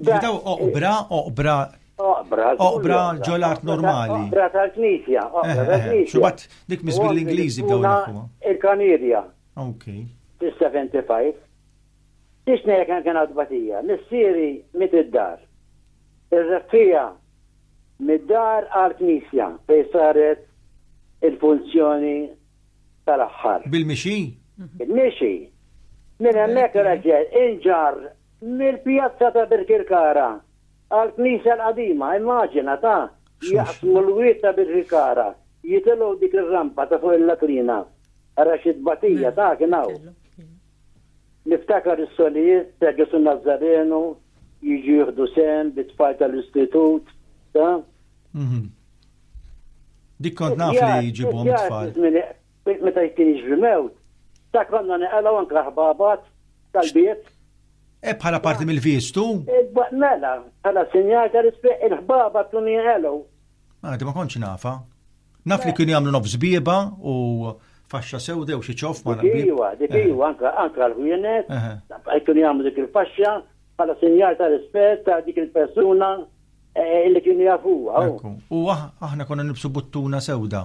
Daw oqbra, oqbra. Oqbra. Oqbra ġol art normali. Oqbra tal-knisja. Oqbra eh, eh, tal-knisja. Xubat dik miss bil-Ingliżi bdew naħwa. Il-kanirja. Ok. 75. Tixna jek kien għadbatija. Missieri mit id-dar. Ir-refija mid-dar għal-knisja fej saret il-funzjoni tal-aħħar. Bil-mixi? Bil-mixi. Minn hemmhekk raġel inġar Mill-pjazza ta' Birkirkara għall-knisja l-qadima, immaġina, ta, jaqsmu l-wied ta' Birkirkara, jitilgħu dik ir-rampa ta' fuq il-Latrina. Ara xi tbatija ta' kien hawn. Niftakar is-solijiet ta' Ġesù Nazzarenu jiġu jieħdu sehem bit-tfal tal-istitut, ta. Dik kont naf li jġibhom it-tfal. Meta jkien jiġri mewt, dak għandna neqalgħu anke l-ħbabat tal-biet. Hekk bħala parti mill-vistu? Mela, bħala sinjal ta' rispett il-ħbabat kienu jinqelgħu. Ah, ma kontx nafa. Naf li kienu jagħmlu nofs bieba u faxxa sewda u xi ċof ma naqbel. Iva, dik eh. iva, anke anke l-ħwienet, eh, eh. kienu jagħmlu dik il-faxxa bħala sinjal ta' rispett ta' dik il-persuna li kienu jafuha. U aħna konna nibsu buttuna sewda.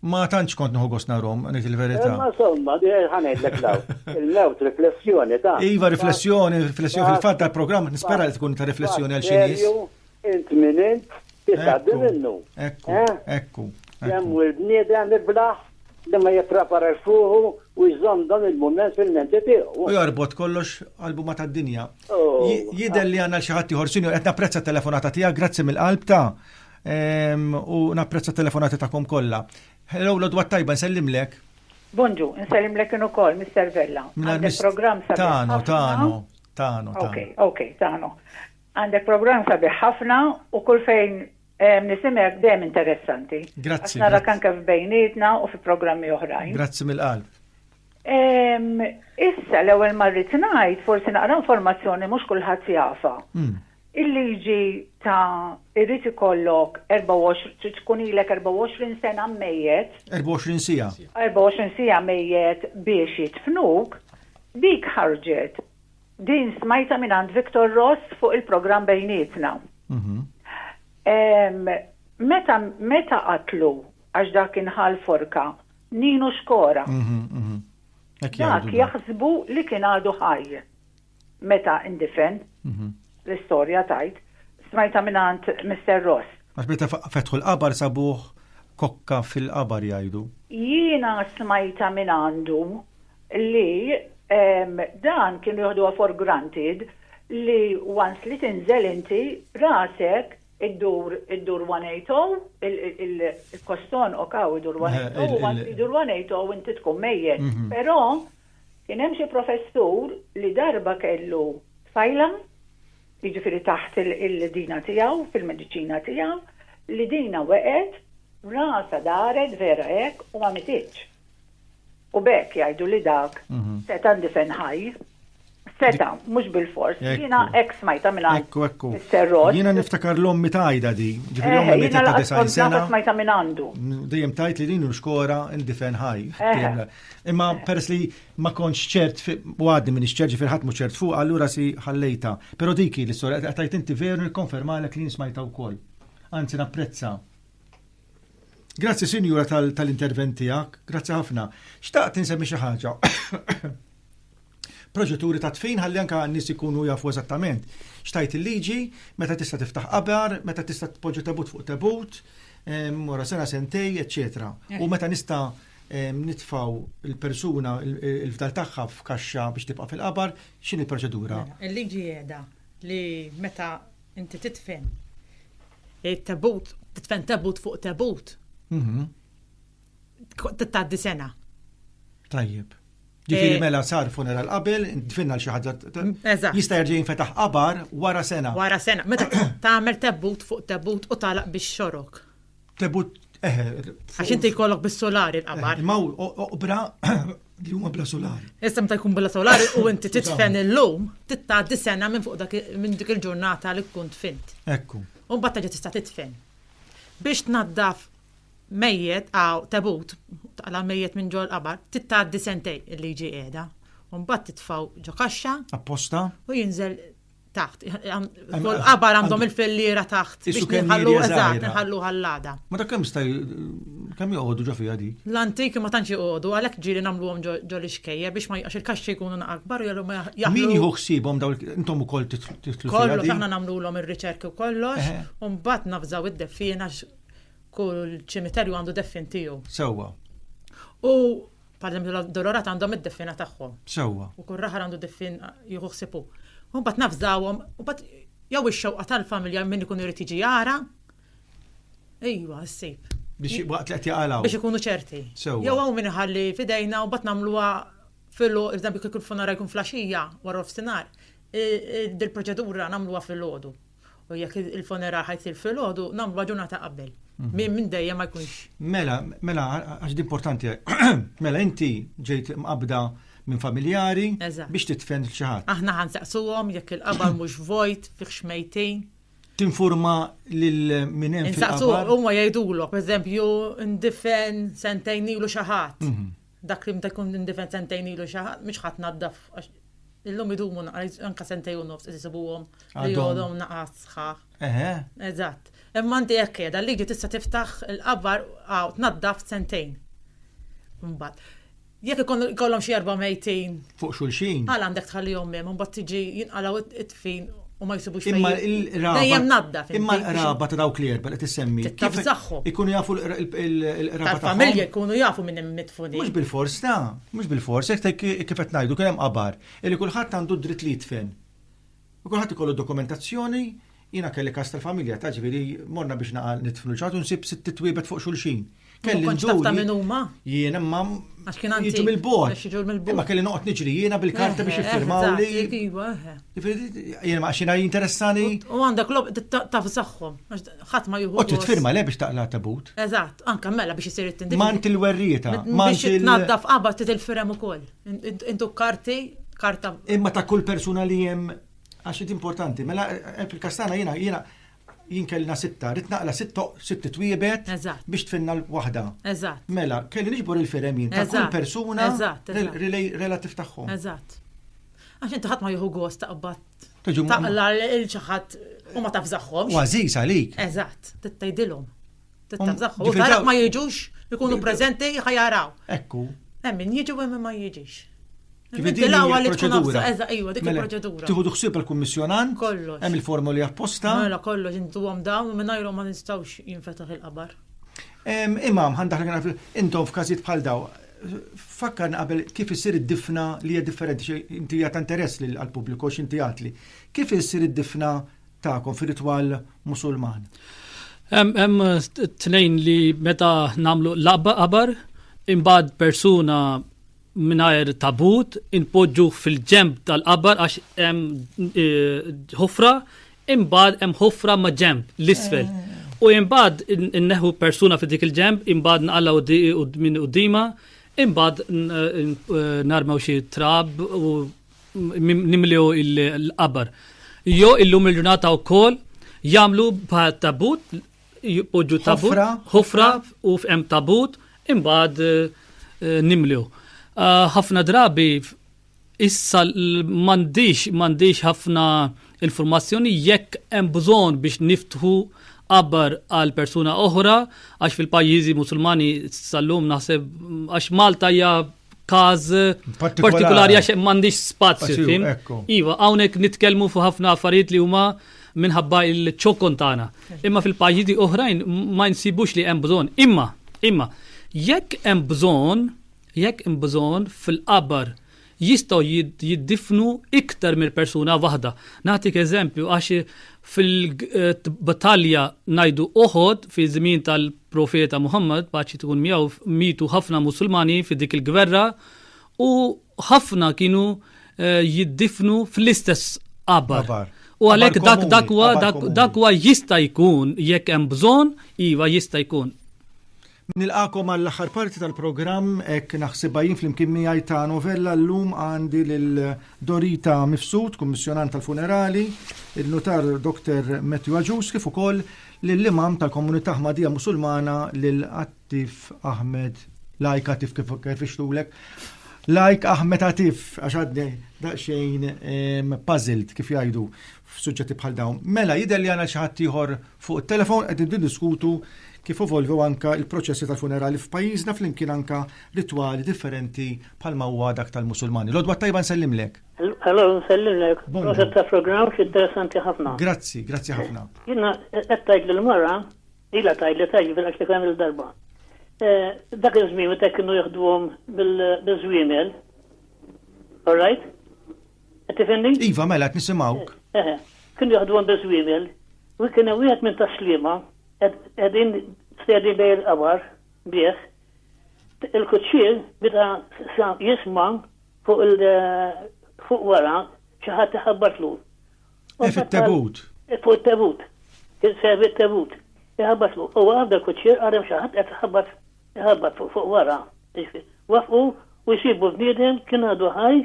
Ma tantx kont nħu gost narhom, ngħid il-verità. Ma somma, ħanejdlek law. Il-mewt riflessjoni ta' Iva riflessjoni, riflessjoni fil-fatt tal-programm nispera li tkun ta' riflessjoni għal xi nies. Int min int titgħaddi minnu. Ekku, eh? ekku. Kemm u l-bniedem iblaħ li ma jipprepara fuħu u jżomm dan il-mument fil-menti tiegħu. U jorbot kollox qalbu ma tad-dinja. Oh. Jidher li għandna xi ħadd ieħor sinjur qed napprezza telefonata tiegħek, grazzi mill-qalb ta' U napprezza telefonati tagħkom kollha. Hello, l-odwa tajba, nsellimlek. Bonġu, nsellimlek in ukoll, Mr. Vella. Għandek programm sabiħ. Tano, tano, tano. Ok, ok, tano. Għandek programm sabiħ ħafna u kull fejn nisimek dejjem interessanti. Grazzi. Nara kan kif bejnietna u fi programmi oħrajn. Grazzi mill-qalb. Issa l-ewwel marrit ngħid forsi naqra informazzjoni mhux kulħadd jafa. Hmm. Il-liġi ta' irrid ikollok 24 trid tkun ilek 24 sena mmejjet. 24 siegħa. 24 siegħa mejjet biex jidfnuk, dik ħarġet. Din smajta minn għand Victor Ross fuq il-programm bejnietna. Mhm. Meta meta qatlu għax dak inħal forka, Ninu Xkora. Mhm, mhm. Dak jaħsbu li kien għadu ħaj. meta indifen, mhm. l-istorja tajt, smajta minant Mr. Ross. Għax meta fetħu l-qabar sabuħ kokka fil-qabar jajdu. Jiena smajta minandu li dan kienu jħdu for granted li once li tinżel inti rasek id-dur id-dur 180 il-koston okaw id-dur 180 id-dur 180 inti tkun mejjen. Mhm. Però Kien hemm xi professur li darba kellu tfajla, jiġifieri taħt il-dina tiegħu, fil-mediċina tiegħu, li dinha weqgħet, rasha daret vera hekk u ma mititx. U b'hekk jgħidu li dak seta' ndifen ħaj. Seta', mhux bilfors. Jiena hekk smajtha minn għand Mister Ross. Jiena niftakar l-ommi tgħidha di, ġifieri ommi mietet ta' 90 sena. Smajtha minn għandu. Dejjem tgħid li din xkora ndifen ħaj. Imma peress li ma kontx ċert u għadni minn ċert ġifier ħadd mhux ċert fuq, allura si ħallejta. Però diki l-istorja qed tajt inti veru nikkonfermalek li nismajta wkoll. Anzi napprezza. Grazzi sinjura tal-intervent tiegħek, grazzi ħafna. Xtaqt insemmi xi ħaġa. proċeduri ta' tfin ħalli anka n-nies ikunu jafu eżattament xtajt il-liġi, meta tista' tiftaħ qabar, meta tista' tpoġġa tebut fuq tebut, wara sena sentej, eċċetera. U meta nista' nitfaw il-persuna il-fdal tagħha f'kaxxa biex tibqa' fil-qabar, x'inhi l-proċedura? Mela, il-liġi qiegħda li meta inti titfen it-tebut, titfen tebut fuq tebut. Mhm. tgħaddi sena. Tajjeb. Ġifiri eh, mela sar funeral qabel, dfinna l-xi ħaġa. Jista' jerġa' jinfetaħ qabar wara sena. Wara sena. Meta tagħmel tebut fuq tebut u talaq biex xorok. Tebut eh, eh, Għax inti jkollok bis-solari l-qabar. Ma oqbra li huma bla solari. Issa meta jkun bla solari u inti titfen illum, tittaddi sena minn fuq minn dik il-ġurnata li tkun tfint. Ekku. U mbagħad ġa tista' titfen. Biex tnaddaf mejjet, hawn tebut, taqla' l-mejjet minn ġol-qabar, trid tgħaddi sentejn il-liġi qiegħda. U mbagħad titfgħu ġo kaxxa. Apposta? U jinżel taħt. Kull qabar għandhom il-filliera taħt biex nħallu eżatt, nħallu ħallada. Ma dak kemm staj kemm joqogħdu ġo fiha dik? L-antiki ma tantx joqogħdu għalhekk ġieli nagħmluhom ġo l-ixkejja biex ma jaqax il-kaxxi jkunu akbar u jgħallu ma jaħlu. Min jieħu ħsiebhom daw intom ukoll titlu. Kollu aħna nagħmlulhom ir-riċerki u kollox, u mbagħad nafżaw id-deffiena Kull ċimiterju għandu deffin tiegħu. Sewwa. U parlemju l-dolorat għandhom id-deffina tagħhom. Sewwa. U kull raħar għandu deffin jieħu ħsibu. U mbagħad nafżawhom, u bat jew ix-xewqa tal-familja minn ikun irid jiġi jara. Ejwa, ssib. Biex waqt li qed jaqalgħu. Biex ikunu ċerti. Sewwa. Jew hawn min iħalli fidejna u bat nagħmluha filu, iżda biex kull funara jkun flaxija wara f'sinar. Dil-proċedura nagħmluha fil-ħodu. U jekk il-funeral ħajt il-filgħodu, nagħmlu ġurnata qabel. Mhm. Min minn dejjem ma jkunx. Mela, mela, għax importanti. Mela, inti ġejt mqabda minn familjari biex titfen xi ħadd. Aħna ħansaqsuhom jekk il-qabar mhux vojt, fih xmejtin. Tinforma lil min hemm fil-qabar. Insaqsu huma jgħidulok, pereżempju, ndifen sentejn ilu xi ħadd. Mhm. Dak li meta jkun indifen sentejn ilu xi ħadd mhux ħa tnaddaf għax illum idumu naqas anke sentejn u nofs qed isibuhom li Għadhom. jgħodhom naqas sħaħ. Eħe. Eżatt. Imma inti hekk qiegħda l-liġi tista' tiftaħ il-qabar hawn tnaddaf sentejn. Imbagħad. Jekk ikun ikollhom xi erba' mejtin, Fuq xulxin. għala għandek tħallihom hemm imbagħad tiġi jinqalgħu it- fin u ma jsibux imma il-raba imma l-raba ta' dawk li erba li tissemmi kif ikunu jafu l-raba ta' familja ikunu jafu minn hemm mitfuni mhux bil-fors ta' mhux bil-fors hekk kif qed ngħidu kien hemm qabar li kulħadd għandu dritt li jitfen. U kulħadd ikollu dokumentazzjoni jiena kelli kas tal-familja ta' ġifieri morna biex naqal nitfnu ċatu nsib sitt titwiebet fuq xulxin. Kelli Konċ taf ta' min huma? Jiena ma Għax kien għandi. Jiġu mill-bord. Jiġu mill-bord. Ma kelli noqgħod niġri jiena bil-karta biex jiffirmaw li. Jiena ma xina jinteressani. U għandek lob taf saħħom. Ħadd ma juhu. U titfirma le biex taqla tabut. Eżatt, anke mela biex isir it-tindin. Mant il-werrieta. Mant il-naddaf qabad titilfirem ukoll. Intu karti, karta. Imma ta' kull persuna li hemm għax importanti. Mela eh, fil-kastana jiena jiena Jien kellna sitta, rrid naqla sitt sitt twiebet Eżatt. biex tfinna l-waħda. Eżatt. Mela, kelli niġbor il-firem jien ta' kull Eżatt. persuna Eżatt, rel- eżatt. relay- relativ tagħhom. Eżatt. Għax inti ħadd ma jieħu gost taqbad Tiġu ma- taqla lil xi ħadd u ma tafżaħħomx. U għażiż għalik. Eżatt, trid tgħidilhom. Trid Um, tafżaħħom. U ġifieri taraf daw- ma jiġux, ikunu preżenti ħajaraw. Ekku. Hemm min jiġi u hemm min ma jiġix. Nibdilawha li tkun proċedura. Eża, iwa, dik mela, il-proċedura. Tieħu duħsib il-kummissjonant. Kollox. Hemm il-formoli apposta. Mela kollox intuhom dawn u mingħajrhom ma nistgħux jinfetaħ il-qabar. Imam, għandak naf intom f'każijiet bħal daw. Fakkarna qabel kif issir id-difna li hija differenti inti hija ta' interess lil għall-pubbliku x'inti għatli. Kif issir id-difna tagħkom fir-ritwal Musulman? Hemm tnejn li meta nagħmlu l-qabar imbagħad persuna mingħajr tabut, inpoġġuh fil-ġenb tal-qabbar għax hemm ħofra, imbagħad hemm ħofra ma' ġenb l-isfel. U imbagħad inneħu persuna fi dik il-ġenb, imbagħad nqalgħu minn qudiema, imbagħad narmew xi trab u nimlew il-qabar. Jo illum il-ġurnata wkoll jagħmlu bħal tabut jpoġġu tabut, ħofra u f'hemm tabut, imbagħad eh, nimlew. Ah, ħafna drabi issa m'għandix m'għandix ħafna informazzjoni jekk hemm bżonn biex niftħu qabbar għal persuna oħra għax fil-pajjiżi musulmani sal-lum naħseb għax Malta hija każ partikolari għax m'għandix spazju fim. Iva, hawnhekk nitkellmu fuq ħafna affarijiet li huma minħabba il-ċokon tagħna. Imma fil-pajjiżi oħrajn ma nsibux li hemm bżonn. Imma, imma, jekk hemm bżonn, jekk hemm bżonn fil-qabar jistgħu jiddifnu iktar mill persuna waħda. Nagħtik eżempju għax fil-battalja ngħidu oħod fi żmien tal Profeta Muhammad, paċi tkun miegħu, mietu ħafna Musulmani fi dik il-gwerra u ħafna kienu jiddifnu fl-istess qabar. U għalhekk dak dak huwa dak huwa jista' jkun jekk hemm bżonn, iva jista' jkun. Nilqakom għall-aħħar parti tal-programm hekk naħsibha jien flimkien miegħi ta' novella llum għandi lil Dorita Mifsud, kummissjonant tal-funerali, il-nutar Dr. Matthew Aġus kif ukoll lill-Imam tal-Komunità Ahmadija Musulmana lil Atif Ahmed Lajk Atif kif kif ixtulek. Lajk Ahmed Atif għax għadni daqsxejn ehm, puzzled kif jgħidu f'suġġetti bħal dawn. Mela jidher li għandna xi ħadd ieħor fuq it-telefon qed niddiskutu kif evolvew anka il-proċessi tal-funerali f'pajjiżna flimkien anka ritwali differenti bħalma huwa dak tal-Musulmani. Lodwa tajba nsellimlek. Hello, nsellimlek. Proset ta' programm interessanti ħafna. Grazzi, grazzi ħafna. Jina, qed tajt l mara ila tajt li tajt bil-għax li kemm il-darba. Eh, dak iż-żmien meta kienu jaħduhom bil-żwiemel. All right? Qed tifhimni? Iva, mela qed nisimgħuk. Eh, eh, kienu jaħduhom bil-żwiemel. U kien hemm wieħed minn taslima qegħdin stedi bej il-qabar bih. Il-kuċċier bida jisma' Fuq il fuq wara xi ħadd iħabbatlu. E fit-tebut. E fuq it-tebut. Servi t-tebut. Iħabbatlu. U għabda kuċċier għadem xi ħadd qed iħabbat iħabbat fuq fuq wara. Wafqu u jsibu bniedem kien għadu ħaj,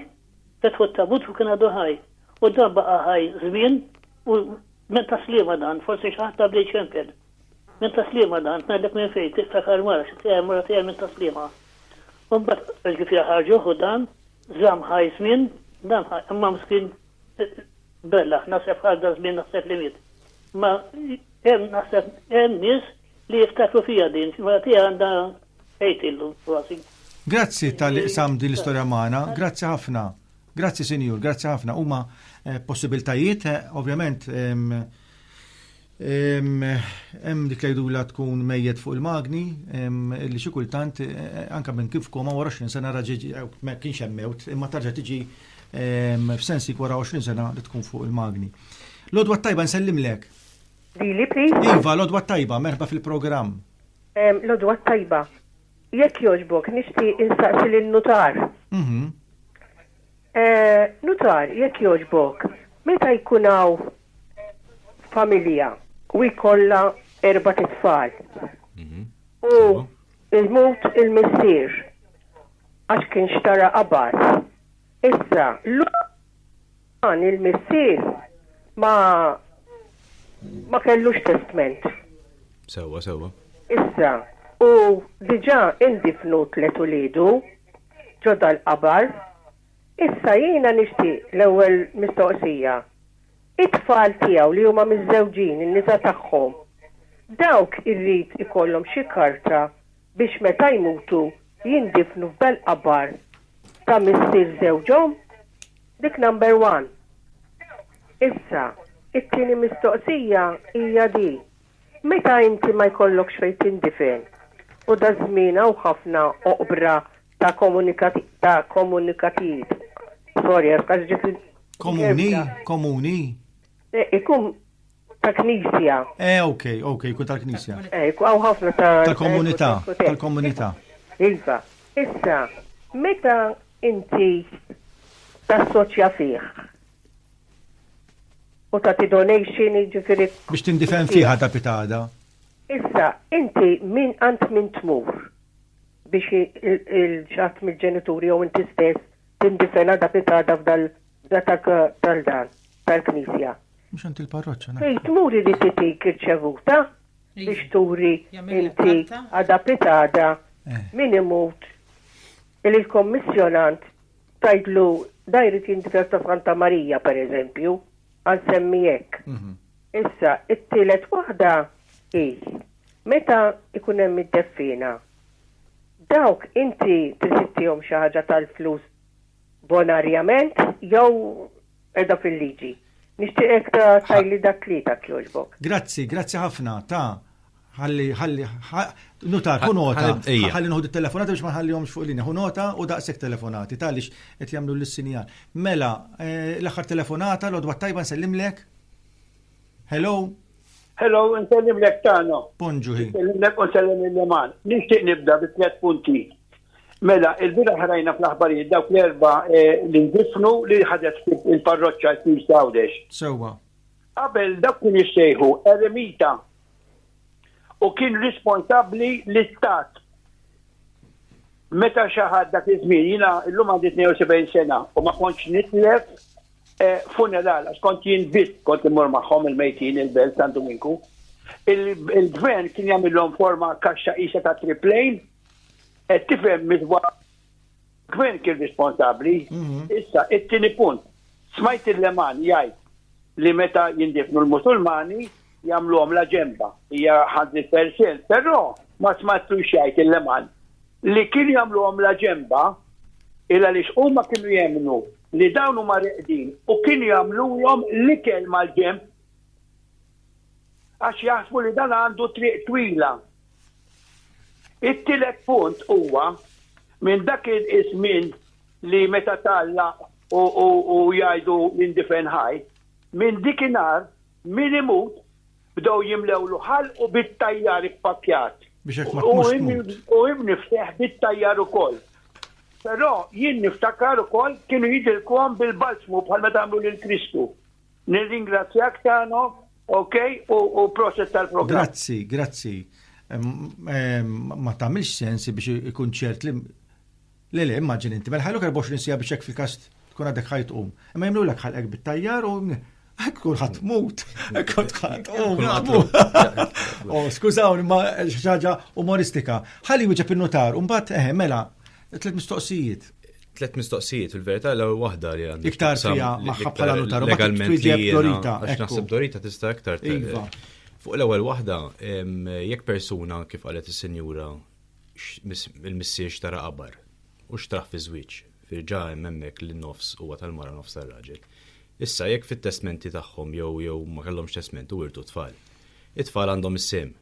fetħu t-tabut u kien għadu ħaj. U dan baqa' ħaj żmien u Minn taslima dan, forsi xi ħadd għaddu jċempel. Minn taslima dan, ngħidlek minn fejn, tiftakar mara xi tiegħi mara tiegħi minn taslima. U mbagħad ġifieri ħarġuh u dan żamm ħaj żmien, dan imma mskin bella, naħseb ħadda żmien naħseb li miet. Ma hemm naħseb hemm nies li jiftakru fija din, mara tiegħi għandha ħejt illu kważi. Grazzi tal-li qsam din l-istorja magħna, grazzi ħafna. Grazzi Sinjur, grazzi ħafna. Huma eh, possibiltajiet, eh, ovvjament, hemm dik la tkun mejjet fuq il-magni li xi kultant eh, eh, anke minn kif koma wara 20 sena raġiġi eh, ma kienx hemm mewt imma tarġa' tiġi f'sensi wara 20 sena li tkun fuq il-magni. Lodwa tajba nsellimlek. Dili, please. Iva, lodwa tajba, merħba fil-programm. Lodwa tajba. Jekk jogħġbok nixtieq insaqsi lin-nutar. Mhm. Eh, nutar, jekk jogħġbok, meta jkun hawn familja u jkollha erbat itfal u jmut il-missier għax kien xtara qabar. Issa, l-uman, il-missier, ma ma kellux testment. Sewwa, sewwa. Issa, u diġà indifnu tliet uliedu ġo dal-qabar. Issa jiena nixtieq l-ewwel mistoqsija. It-tfal tiegħu li huma miżżewġin, in-nisa tagħhom, dawk irrid ikollhom xi karta biex meta jmutu jindifnu f'belt qabar ta' missier żewġhom? Dik number one. Issa, it-tieni mistoqsija hija di, meta inti ma jkollokx fejn tindifen, u daż-żmien hawn ħafna oqbra ta' ta' komunikatijiet, sorry għax ġiet. Komuni, komuni. Ikun ta' knisja. Eh, ok, ok, jkun tal-knisja. Eh, għaw ħafna ta' tal-komunità, tal-komunità. Iva, issa, meta inti tassoċja fih u ta' donation ġifiri. Biex tindifen fiħa ta' pitada. Issa, inti min għant min tmur biex il-ġat mill-ġenituri jew inti stess tindifena da pitada f'dal Datak tal-dan, tal-knisja. Mhux għand il-parroċċa. Fejn tmur irid titik irċevuta biex turi inti għada pitada eh. min imut il-kommissjonant tajdlu da jrid jindifes ta' Santa Marija per eżempju, għan semmi hekk. Mhm. Issa, it-tielet waħda hi meta ikun hemm id-deffina. Dawk inti tisittihom xi ħaġa tal-flus Bonarjament jew qiegħda fil-liġi? Nixtieqek ta tajli da tlieta jekk jogħġbok. Grazzi, grazzi ħafna ta ħalli ħalli nutar hu nota ħalli noħdu telefonati biex ma ħallihomx fuq linja. Hu nota u daqshekk telefonati taliex qed jagħmlu l-sinjal. Mela, eh, l-aħħar telefonata l-odwa tajba nsellimlek. Hello. Hello, nsellim lek tano. Bonġu ħin. Nsellim lek u nsellim il-leman. Nixtieq nibda bi tliet punti. Mela, il-bira ħrajna fl-aħbarijiet dawk l-erba eh, li ndifnu li ħadet il-parroċċa jkun sawdex. Sewa. Qabel dak kien jissejħu eremita u kien responsabbli l-istat. Meta xaħad dak iż-żmien jiena llum għandi 72 sena u ma kontx nitlef funeral, għax kont jien biss kont immur magħhom il-mejtin il-belt San Duminku. Il-gvern kien jagħmilhom forma kaxxa isa ta' triplejn, qed tifhem midwa gvern kien responsabbli. Mhm. Issa, it-tieni punt, smajt il-leman jgħid li meta jindifnu l-Musulmani jagħmluhom la ġemba, hija ħadri persil, però ma smattu xajt il-leman Li kienu jagħmluhom la ġenba, il għaliex huma kienu jemmnu li dawn huma reqdin u kienu jagħmluhom l-ikel mal-ġenb għax jaħsbu li dan għandu triq twila. It-tielet punt huwa minn dak iż-żmien li meta tgħallaq u jgħidu l-indifen ħaj, minn dikinhar, Min imut, bdew jimlewlu ħalqu bit-tajjar ippakkjat. Biex hekk ma tmurx tmut. U hi mniffseħ bit-tajjar ukoll. Però jien niftakar ukoll kienu jidilkuhom bil-balzmu bħal meta għamlu lil Kristu. Nirringrazzjak Tano, ok, u proset tal-programm. Grazzi, grazzi. Ma tagħmilx sens biex ikun ċert li Le le, immaġini inti, mela ħajluk 24 siegħa biex hekk fil-każ tkun għadek ħaj tqum. Imma jagħmlulek ħalqek bit-tajjar u Hekk tkun ħadd mut, hekk tkun ħadd u oh, skużawni ma xi ħaġa umoristika. Ħalli wieġeb in-notar u mbagħad eħe eh, mela tliet mistoqsijiet. Tliet mistoqsijiet fil-verità l waħda li għandha. Iktar fija magħha bħala notar legalment li Dorita. Għax naħseb Dorita tista' iktar iva. Fuq l-ewwel waħda, jekk persuna kif qalet is-sinjura il-missier xtara qabar u xtraħ fi żwieġ, firġa' hemm hemmhekk li nofs huwa tal-mara u nofs tar-raġel. Issa jekk fit-testmenti tagħhom jew jew ma kellhomx testment u wirtu tfal, it-tfal għandhom is-sehem.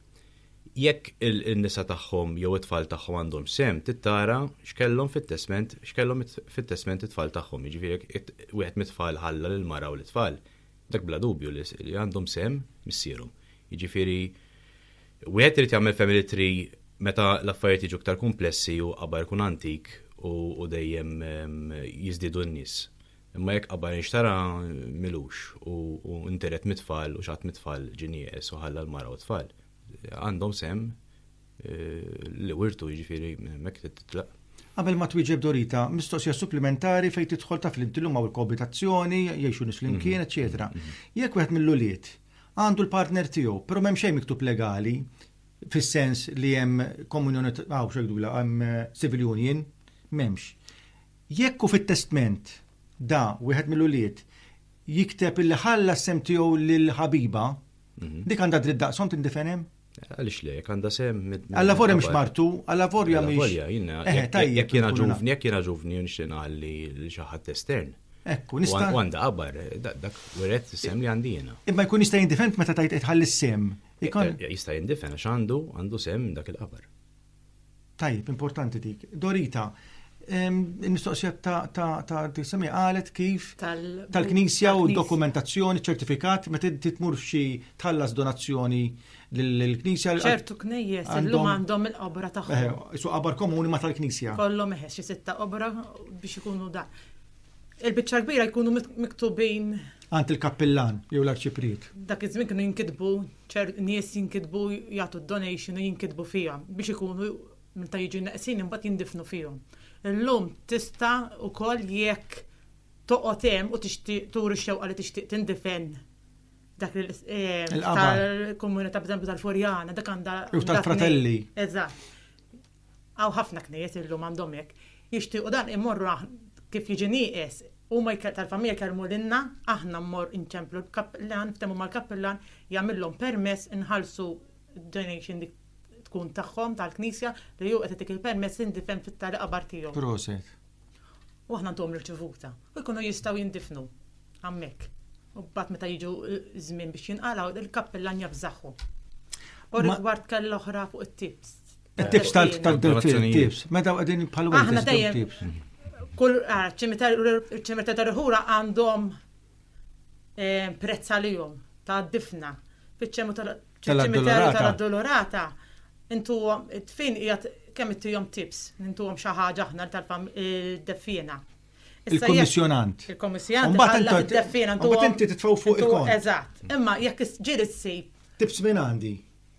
Jekk in-nisa tagħhom jew it-tfal tagħhom għandhomx sehem, tittara x'kellhom fit-testment x'kellhom fit-testment it-tfal tagħhom, jiġifieri jekk wieħed mit-tfal ħalla lill-mara u lit-tfal, dak bla dubju li għandhom sehem missierhom. Jiġifieri Wieħed irid jagħmel family tree meta l-affarijiet jiġu iktar kumplessi u qabar ikun antik u dejjem jiżdiedu n-nies. Imma jekk qabar inxtara m'ilux u ntiret mit-tfal u x'għadd mit-tfal ġie nieqes u ħalla l-mara u t-tfal, għandhom sehem li wirtu, jiġifieri hemmhekk trid titlaq. Qabel ma twieġeb Dorita, mistoqsija supplimentari fejn tidħol taf li inti llum hawn il-koabitazzjoni, jgħixu nies flimkien, eċċetera. Jekk wieħed mill-ulied Għandu l-partner tiegħu, però m'hemm xejn miktub legali fis-sens li hemm komunjoni ta' hawn x'għidula hemm civil union, m'hemmx. Jekk hu fit-testment da wieħed mill-ulied jikteb illi ħalla s-sehem tiegħu lill-ħabiba, dik għandha dritt daqshom tindifenhem? Għalix le, jek għanda sem. Għalla forja mx martu, għalla forja mx. Forja, jina. Eh, tajja. Jek jina ġuvni, jek jina ġuvni, nxin għalli xaħat estern. Ekku, nista. Għanda għabar, dak, weret sem li għandi jina. Imma jkun jista jindifend meta tajt etħalli sem. Eh, eh, jista jindifend, għax għandu, għandu sem dak il-qabar. Tajjeb, importanti dik. Dorita, il-mistoqsija ta' tisemi għalet kif tal-knisja u dokumentazzjoni, ċertifikat, ma titmur xi tħallas donazzjoni l-knisja. ċertu knejjes, għandhom għandhom il-qabra tagħhom. Eh, su qabra komuni ma tal-knisja. Kollhom eħes xi sitta qabra biex ikunu da. Il-biċċa kbira jkunu miktubin. Għand il-kappillan jew l-arċiprit. Dak iż-żmien kienu jinkitbu ċert nies jinkitbu jagħtu d-donation u jinkitbu fiha biex ikunu meta jiġu neqsin imbagħad jindifnu fihom. Illum tista' ukoll jekk toqgħod hemm u tixtieq turi x-xewqa li tixtieq tindifen dak il-qamar. Tal-komunità b'eżempju tal-Furjana, dak għandha. Jew tal-fratelli. Eżatt. Hawn ħafna knejjes illum għandhom hekk. Jixtiequ dan immorru aħn kif jiġi nieqes, huma jke tal-familja jkellmu lilna, aħna mmorr inċemplu l-kappillan, niftehmu mal-kappillan, jagħmillhom permess inħallsu d-donation dik tkun tagħhom tal-knisja li hu qed itik il-permess li ndifen fit-tali qabar tiegħu. Proset. u aħna ntuhom riċevuta u jkunu jistgħu jindifnu hemmhekk. U mbagħad meta jiġu żmien biex jinqalgħu il-kappillan jafżaħħu. U rigward kell oħra fuq it-tips. It-tips tal-tips, meta qegħdin bħal Aħna dejjem kull ċimita tal-ħura għandhom eh, prezz għalihom ta' difna fiċ-ċemu tal-addolorata. Tal-addolorata intu fejn qiegħed kemm ittihom tips, intuhom xi ħaġa aħna tal-deffina. Eh, Il-kommissjonant. Il-kommissjonant. Mbagħad id-deffina intu. Mbagħad inti titfgħu fuq il-kont. Eżatt. Imma jekk ġieli ssib. Tips minn għandi.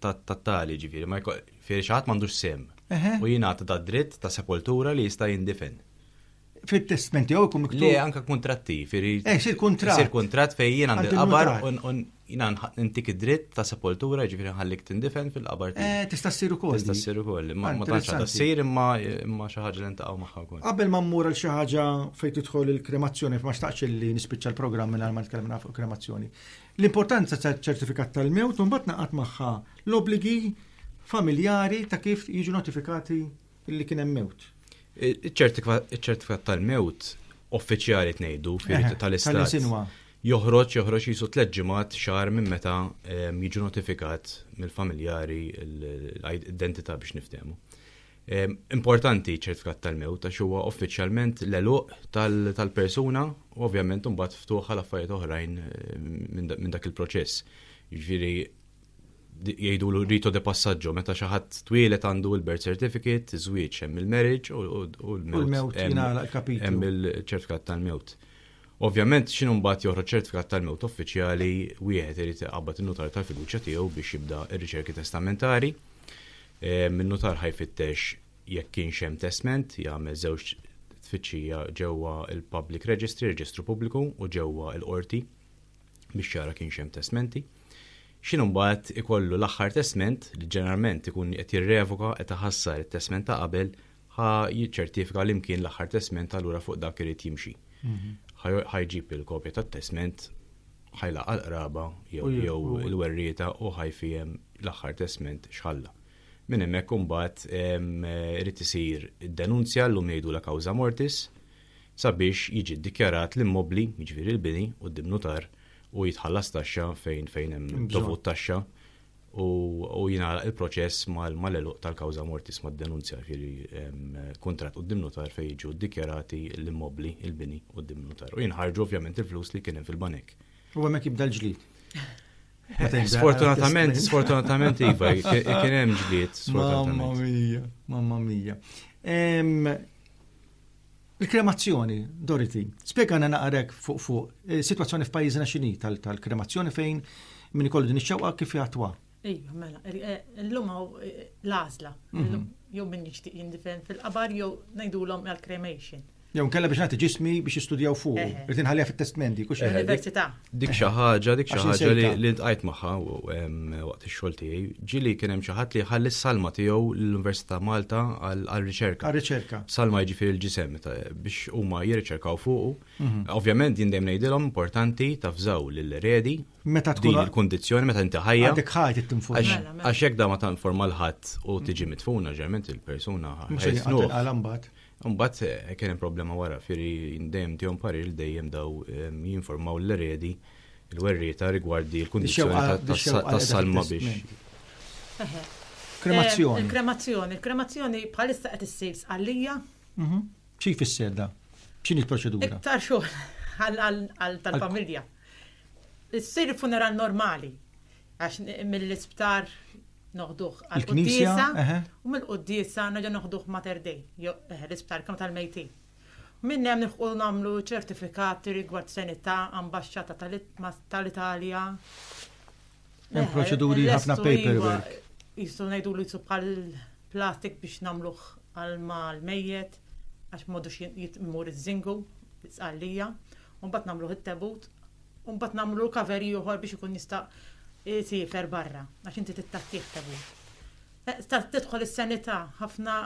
tat-tali ġifieri ma fieri xi ħadd m'għandux sehem u jingħata ta' dritt ta' sepoltura li jista' jindifen. Fit-testment tiegħu jkun miktub. Le anke kuntratti, fieri. Eh, sir kuntratt. Sir kuntratt fejn jien għandi qabar u jiena ntik id-dritt ta' sepoltura ġifieri nħallik tindifen fil-qabar tiegħi. Eh, tista' ssir ukoll. Tista' ssir ukoll, ma tantx għadha ssir imma imma xi ħaġa li ntaqgħu magħha wkoll. Qabel ma mmur għal xi ħaġa fejn tidħol il-kremazzjoni, ma xtaqx li nispiċċa l-programm mingħajr ma tkellimna fuq kremazzjoni. L-importanza taċ-ċertifikat tal-mewt u mbagħad ngħaqad magħha l-obbligi familjari ta' kif jiġu notifikati li kien hemm mewt. Iċ-ċertifikat tal-mewt uffiċjali tnejdu tal-istat joħroġ joħroġ jisu tliet ġimgħat xahar minn meta ehm, jiġu notifikat mill-familjari l-identità biex niftehmu. Importanti ċertfikat tal-mewt għax huwa uffiċjalment l-eluq tal-persuna u ovvjament imbagħad ftuħ għal affarijiet oħrajn eh, minn dak il-proċess. Jiġifieri jgħidu l rito de passaggio meta xi ħadd twielet għandu l-birth certificate, iż-żwieġ hemm il-marriage u l-mewt. Hemm il-ċertfikat tal-mewt. Ovvjament x'inhu mbagħad joħroġ ċertfikat tal-mewt uffiċjali wieħed irid iqabbad in-nutar tal-fiduċja tiegħu biex jibda r-riċerki testamentari Min-nutar ħa jfittex jekk kienx hemm testment, jagħmel żewġ tfittxija ġewwa l-Public Registry, Reġistru Pubbliku, u ġewwa l-Qorti biex jara kienx hemm testmenti. X'inhu mbagħad ikollu l-aħħar testment li ġeneralment ikun qed jirrevoka qed iħassar it-testment ta' qabel ħa jiċċertifika li mkien l-aħħar testment allura fuq dak irid jimxi. Mhm. Ħa jġib il-kopja tat-testment ħajlaqa l-qraba jew il-werrieta u ħajfijem l-aħħar testment xħalla. Minn hemmhekk imbagħad irid isir id-denunzja llum jgħidu la kawża mortis sabiex jiġi ddikjarat l-immobli, jiġifieri l-bini u d-dimnutar u jitħallas taxxa fejn fejn hemm dovut taxxa u jingħalaq il-proċess mal-eluq tal-kawża mortis mad-denunzja ġieli kuntratt quddiem nutar fejn jiġu ddikjarati l-immobbli, il-bini quddiem nutar. U jinħarġu ovvjament il-flus li kien hemm fil-banek. U hemmhekk jibda l-ġlied. Sfortunatament, sfortunatament iva, kien hemm ġlied. Mamma mia, mamma mia. Il-kremazzjoni, Dorothy, spjegana naqra hekk fuq fuq, is-sitwazzjoni f'pajjiżna x'inhi tal-kremazzjoni fejn min ikollu din ix-xewqa kif jgħattwa? Iva, mela, illum hawn l-għażla, jew min jixtieq jindifen fil-qabar jew ngħidulhom għall-cremation. Jew inkella biex nagħti ġismi biex jistudjaw fuqu, irid inħalliha fit-testment dik u x'inhi? Fl-università. Dik xi ħaġa, dik xi ħaġa li ntqajt magħha waqt ix-xogħol tiegħi, ġieli kien hemm xi ħadd li ħalli s-salma tiegħu l-Università Malta għall-riċerka. Għar-riċerka. Salma jiġifieri l-ġisem biex huma jirriċerkaw fuqu. Mhm. Ovvjament jien dejjem ngħidilhom importanti tafżaw lil redi meta tkun il-kundizzjoni meta inti ħajja. Għadek ħajt it-tinfuna. Mela, mela. Għax jekk da ma tanforma l-ħadd u tiġi mitfuna ġerment il-persuna ħajja. Imbagħad eh, kien hemm problema wara, firri dejjem tihom parir li dejjem daw ehm, jinformaw l-eredi il-werrieta rigward il-kundizzjoni tas-salma biex. Kremazzjoni. Il-kremazzjoni, il-kremazzjoni bħalissa qed issir sqallija. Mhm. Xi jfisser da? X'inhi l-proċedura? Iktar xogħol għal tal-familja. Issir funeral normali, għax mill-isptar noħduh għal-Knisja, u mill-Quddisa naġa noħduh Mater Dei, eh, l-isptar kemm tal-mejtin. Minn hemm nilħqu nagħmlu ċertifikati rigward senità, ambaxxata tal-Italja, Hemm proċeduri ħafna paperwork. Jistgħu ngħidu li bħal plastik biex nagħmluh għal mal-mejjet għax m'għadux jitmur iż-żingu, l-isqallija, u mbagħad nagħmluh it-tebut, u mbagħad nagħmlu kaveri ieħor biex ikun jista' jsiefer barra għax inti tittattih tebut. Eh, tidħol is-sanità ħafna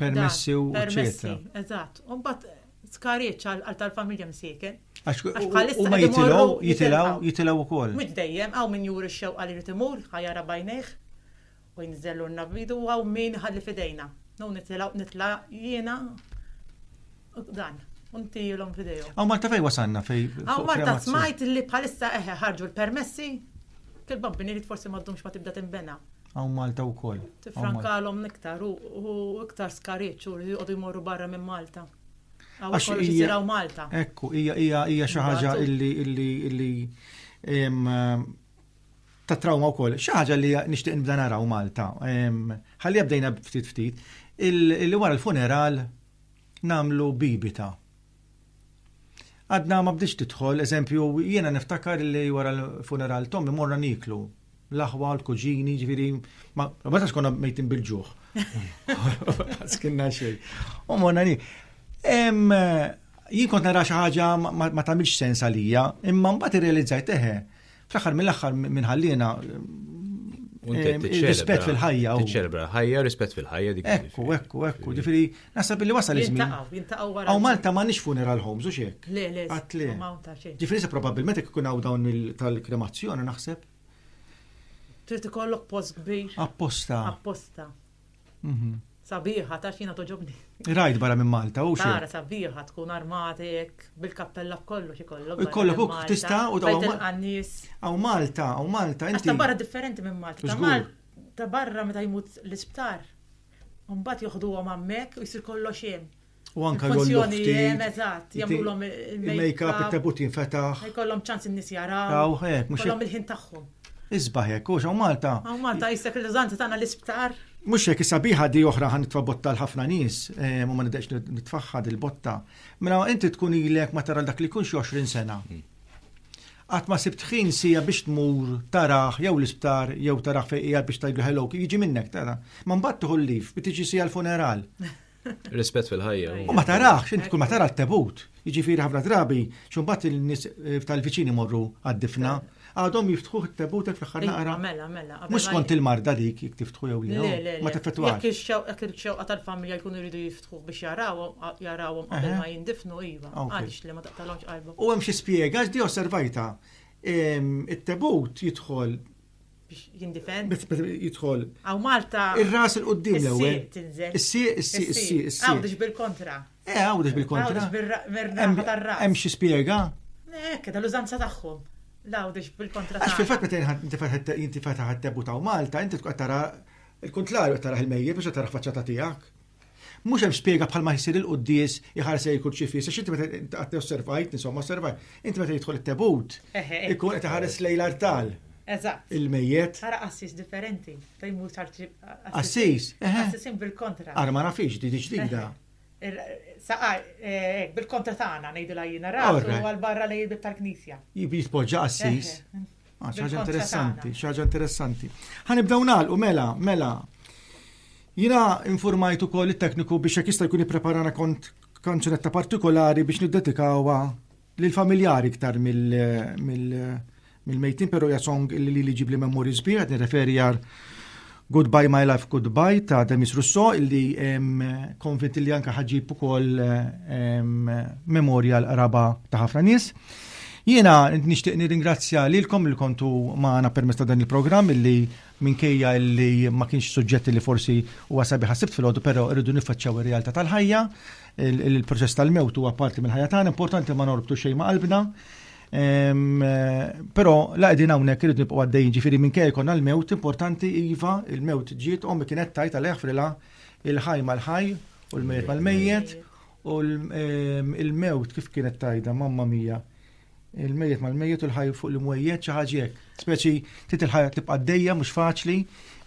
permessi u permessi. Eżatt. U mbagħad Skariċ għal tal-familja msieken. Għax bħalissa ma jitilgħu, jitilgħu, jitilgħu wkoll. Mhux dejjem, hawn min juri x-xewqa li jrid imur, ħa jara b'għajnejh u jinżellulna b'idu u hawn min iħalli f'idejna. No nitilgħu nitla' jiena dan, u ntihilhom f'idejhom. Hawn Malta fejn wasalna fej. Hawn Malta smajt li bħalissa eħe ħarġu l-permessi, kil-bambini li forsi ma ddumx ma tibda tinbena. Għaw Malta u koll. Tifrankalom niktar u iktar skarieċ u li jgħodu jmorru barra minn Malta. Għax jisiraw Malta. Ekku, hija xi ħaġa illi illi illi ta' trauma wkoll. Xi ħaġa li nixtieq nibda naraw Malta. Ħalli jabdejna ftit ftit. Illi wara l-funeral namlu bibita. Għadna ma bdiex tidħol, eżempju, jiena niftakar li wara l-funeral Tommy morna niklu. L-aħwa, l-kuġini, ġviri, ma bata xkonna mejtin bil-ġuħ. Skinna xej. U morna ni. Jien kont nara xi ħaġa ma tagħmilx sens għalija, imma mbagħad irrealizzajt eħe. Fl-aħħar mill-aħħar minn ħalliena rispett fil-ħajja. Tiċċelebra ħajja, rispett fil-ħajja dik. Ekku, ekku, ekku. Ġifieri naħseb li wasal iż-żmien. Jintaqgħu, jintaqgħu wara. Aw Malta ma nix funeral homes u xek. Le, le. Għatli. Ġifieri se probabbilment ikun hawn dawn tal-kremazzjoni naħseb. Trid ikollok post kbir. Apposta. Apposta. Mhm. Sabiħa, ta' xina toġobni. Rajt barra minn Malta, u xina. Tara sabiħa tkun armatek, bil-kappella b'kollu xie kollu. Kollu kuk tista u ta' għannis. Għaw Malta, għaw Malta. Għasta barra differenti minn Malta. Ta' Malta, ta' barra meta jmut l-isptar. Umbat joħdu għom għammek u jisir kollu xem. U anka l-funzjoni jen, eżatt, jagħmlulhom il-make-up, it-tebut jinfetaħ. Jkollhom ċans in-nies jaraw. Jkollhom il-ħin tagħhom. Isbaħ hekk, u xaw Malta. Hawn Malta jisek il-liżanti tagħna l-isptar. Mhux hekk sabiħa di oħra ħan nitfa' botta l-ħafna nies, eh, u ma nidhekx nitfaħħa dil-botta. Mela inti tkun ilek ma tara dak li kunx 20 sena. Qatt ma sibt ħin sija biex tmur taraħ jew l-isptar jew taraħ fejqija biex tajdu hello jiġi minnek tara. Ma mbagħad tieħu l-lif biex tiġi sija l-funeral. Rispett fil-ħajja. U ma tarax, int kull ma tara t-tebut. Jiġifieri ħafna drabi, xumbat il-nies eh, tal-viċini morru għad-difna, għadhom jiftħu t-tebut fl ħar iva, naqra. Mela, mela. Mhux kont il-marda dik jek tiftħu jew le. Ma teffettwax. Jekk ix-xewqa xewqa tal-familja jkunu jridu jiftħu biex jarawhom jarawhom qabel ma jindifnu iva. Għaliex li ma taqtalhomx qalbhom. U hemm xi spjega, ġdi osservajta. It-tebut jidħol biex jindifend. Jidħol. Għaw Malta. Ir-ras il-qoddim l-ewwel. Is-sieq, is-sieq, is-sieq, is-sieq. Għawdex bil-kontra. Eh, għawdex bil-kontra. Għawdex bil-kontra. tar-ras. Hemm xi spjega? Ekk, eh, tal-użanza tagħhom. L-għawdex bil-kontra. Għax fil-fatt meta inti fetaħ it-tebu ta' Malta, inti tkun tara il-kuntrarju tara il-mejjed biex tara faċċata tiegħek. Mhux hemm spjega bħal ma jsir il-quddies iħarsej il-kurċifiss, għax inti meta osservajt, insomma osservajt, inti meta jidħol it-tebut, ikun qed iħares lejn l-artal. Eżatt. Il-mejjet. Ara qassis differenti, fejn mhux tard Qassis. Qassisin bil-kontra. Ara ma nafix di ġdida. Saqa, eh, bil-kontra tagħna ngħidu lajjina rasu għal barra lejn tal-knisja. Jitpoġġa qassis. Ah, ħaġa interessanti, ħaġa interessanti. Ħanibdew nagħlqu mela, mela. Jina informajtu ukoll it-tekniku biex jekk jista' jkun ippreparana kont kanċunetta partikolari biex niddedikawha lil familjari iktar mill-mejtin, però hija song li li ġibli memori sbieħ, nirreferi għar Goodbye My Life Goodbye ta' Demis Rousseau illi konvint illi anka ħaġib ukoll memorja l-qraba ta' ħafna nies. Jiena nixtieq nirringrazzja lilkom li kontu magħna permezz ta' dan il-programm illi minkejja illi ma kienx suġġett li forsi huwa sabi ħassibt fil-għodu però rridu niffaċċaw ir-realtà tal-ħajja, il-proċess tal-mewt huwa parti mill-ħajja tagħna, importanti ma norbtu xejn ma' qalbna. Però la qegħdin hawnhekk irid nibqgħu għaddejjin ġifieri minkejja jkun għall-mewt importanti iva il-mewt ġiet ommi kienet tajt għal eħfrilha il-ħaj mal-ħaj u l-mejjet mal-mejjet u l-mewt kif kienet tajda mamma mija il-mejjet mal-mejjet u l-ħaj fuq l-imwejjet xi ħaġa hekk. Speċi trid il-ħajja tibqa' għaddejja mhux faċli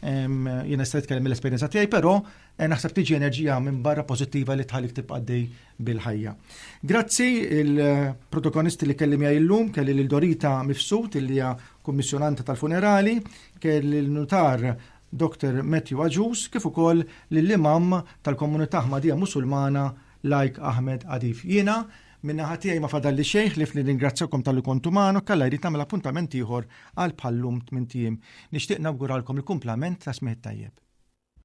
jiena se nitkellem mill-esperjenza tiegħi, però eh, naħseb tiġi enerġija minn barra pożittiva li tħallik tibqa' għaddej bil-ħajja. Grazzi il-protagonisti li kelli miegħi llum, kelli lil Dorita Mifsud li hija kummissjonanta tal-funerali, kelli l-nutar Dr. Matthew Aġus kif ukoll lill-imam tal-komunità Ħmadija Musulmana Lajk Ahmed Adif. Jiena minna ħatijaj ma fadalli xejn li fli ringrazzjakom tal-li kontu maħnu kalla jrid nagħmel appuntament ieħor għal bħallum tmintijiem. Nixtieq nawguralkom il-kumplament ta' smieħ tajjeb.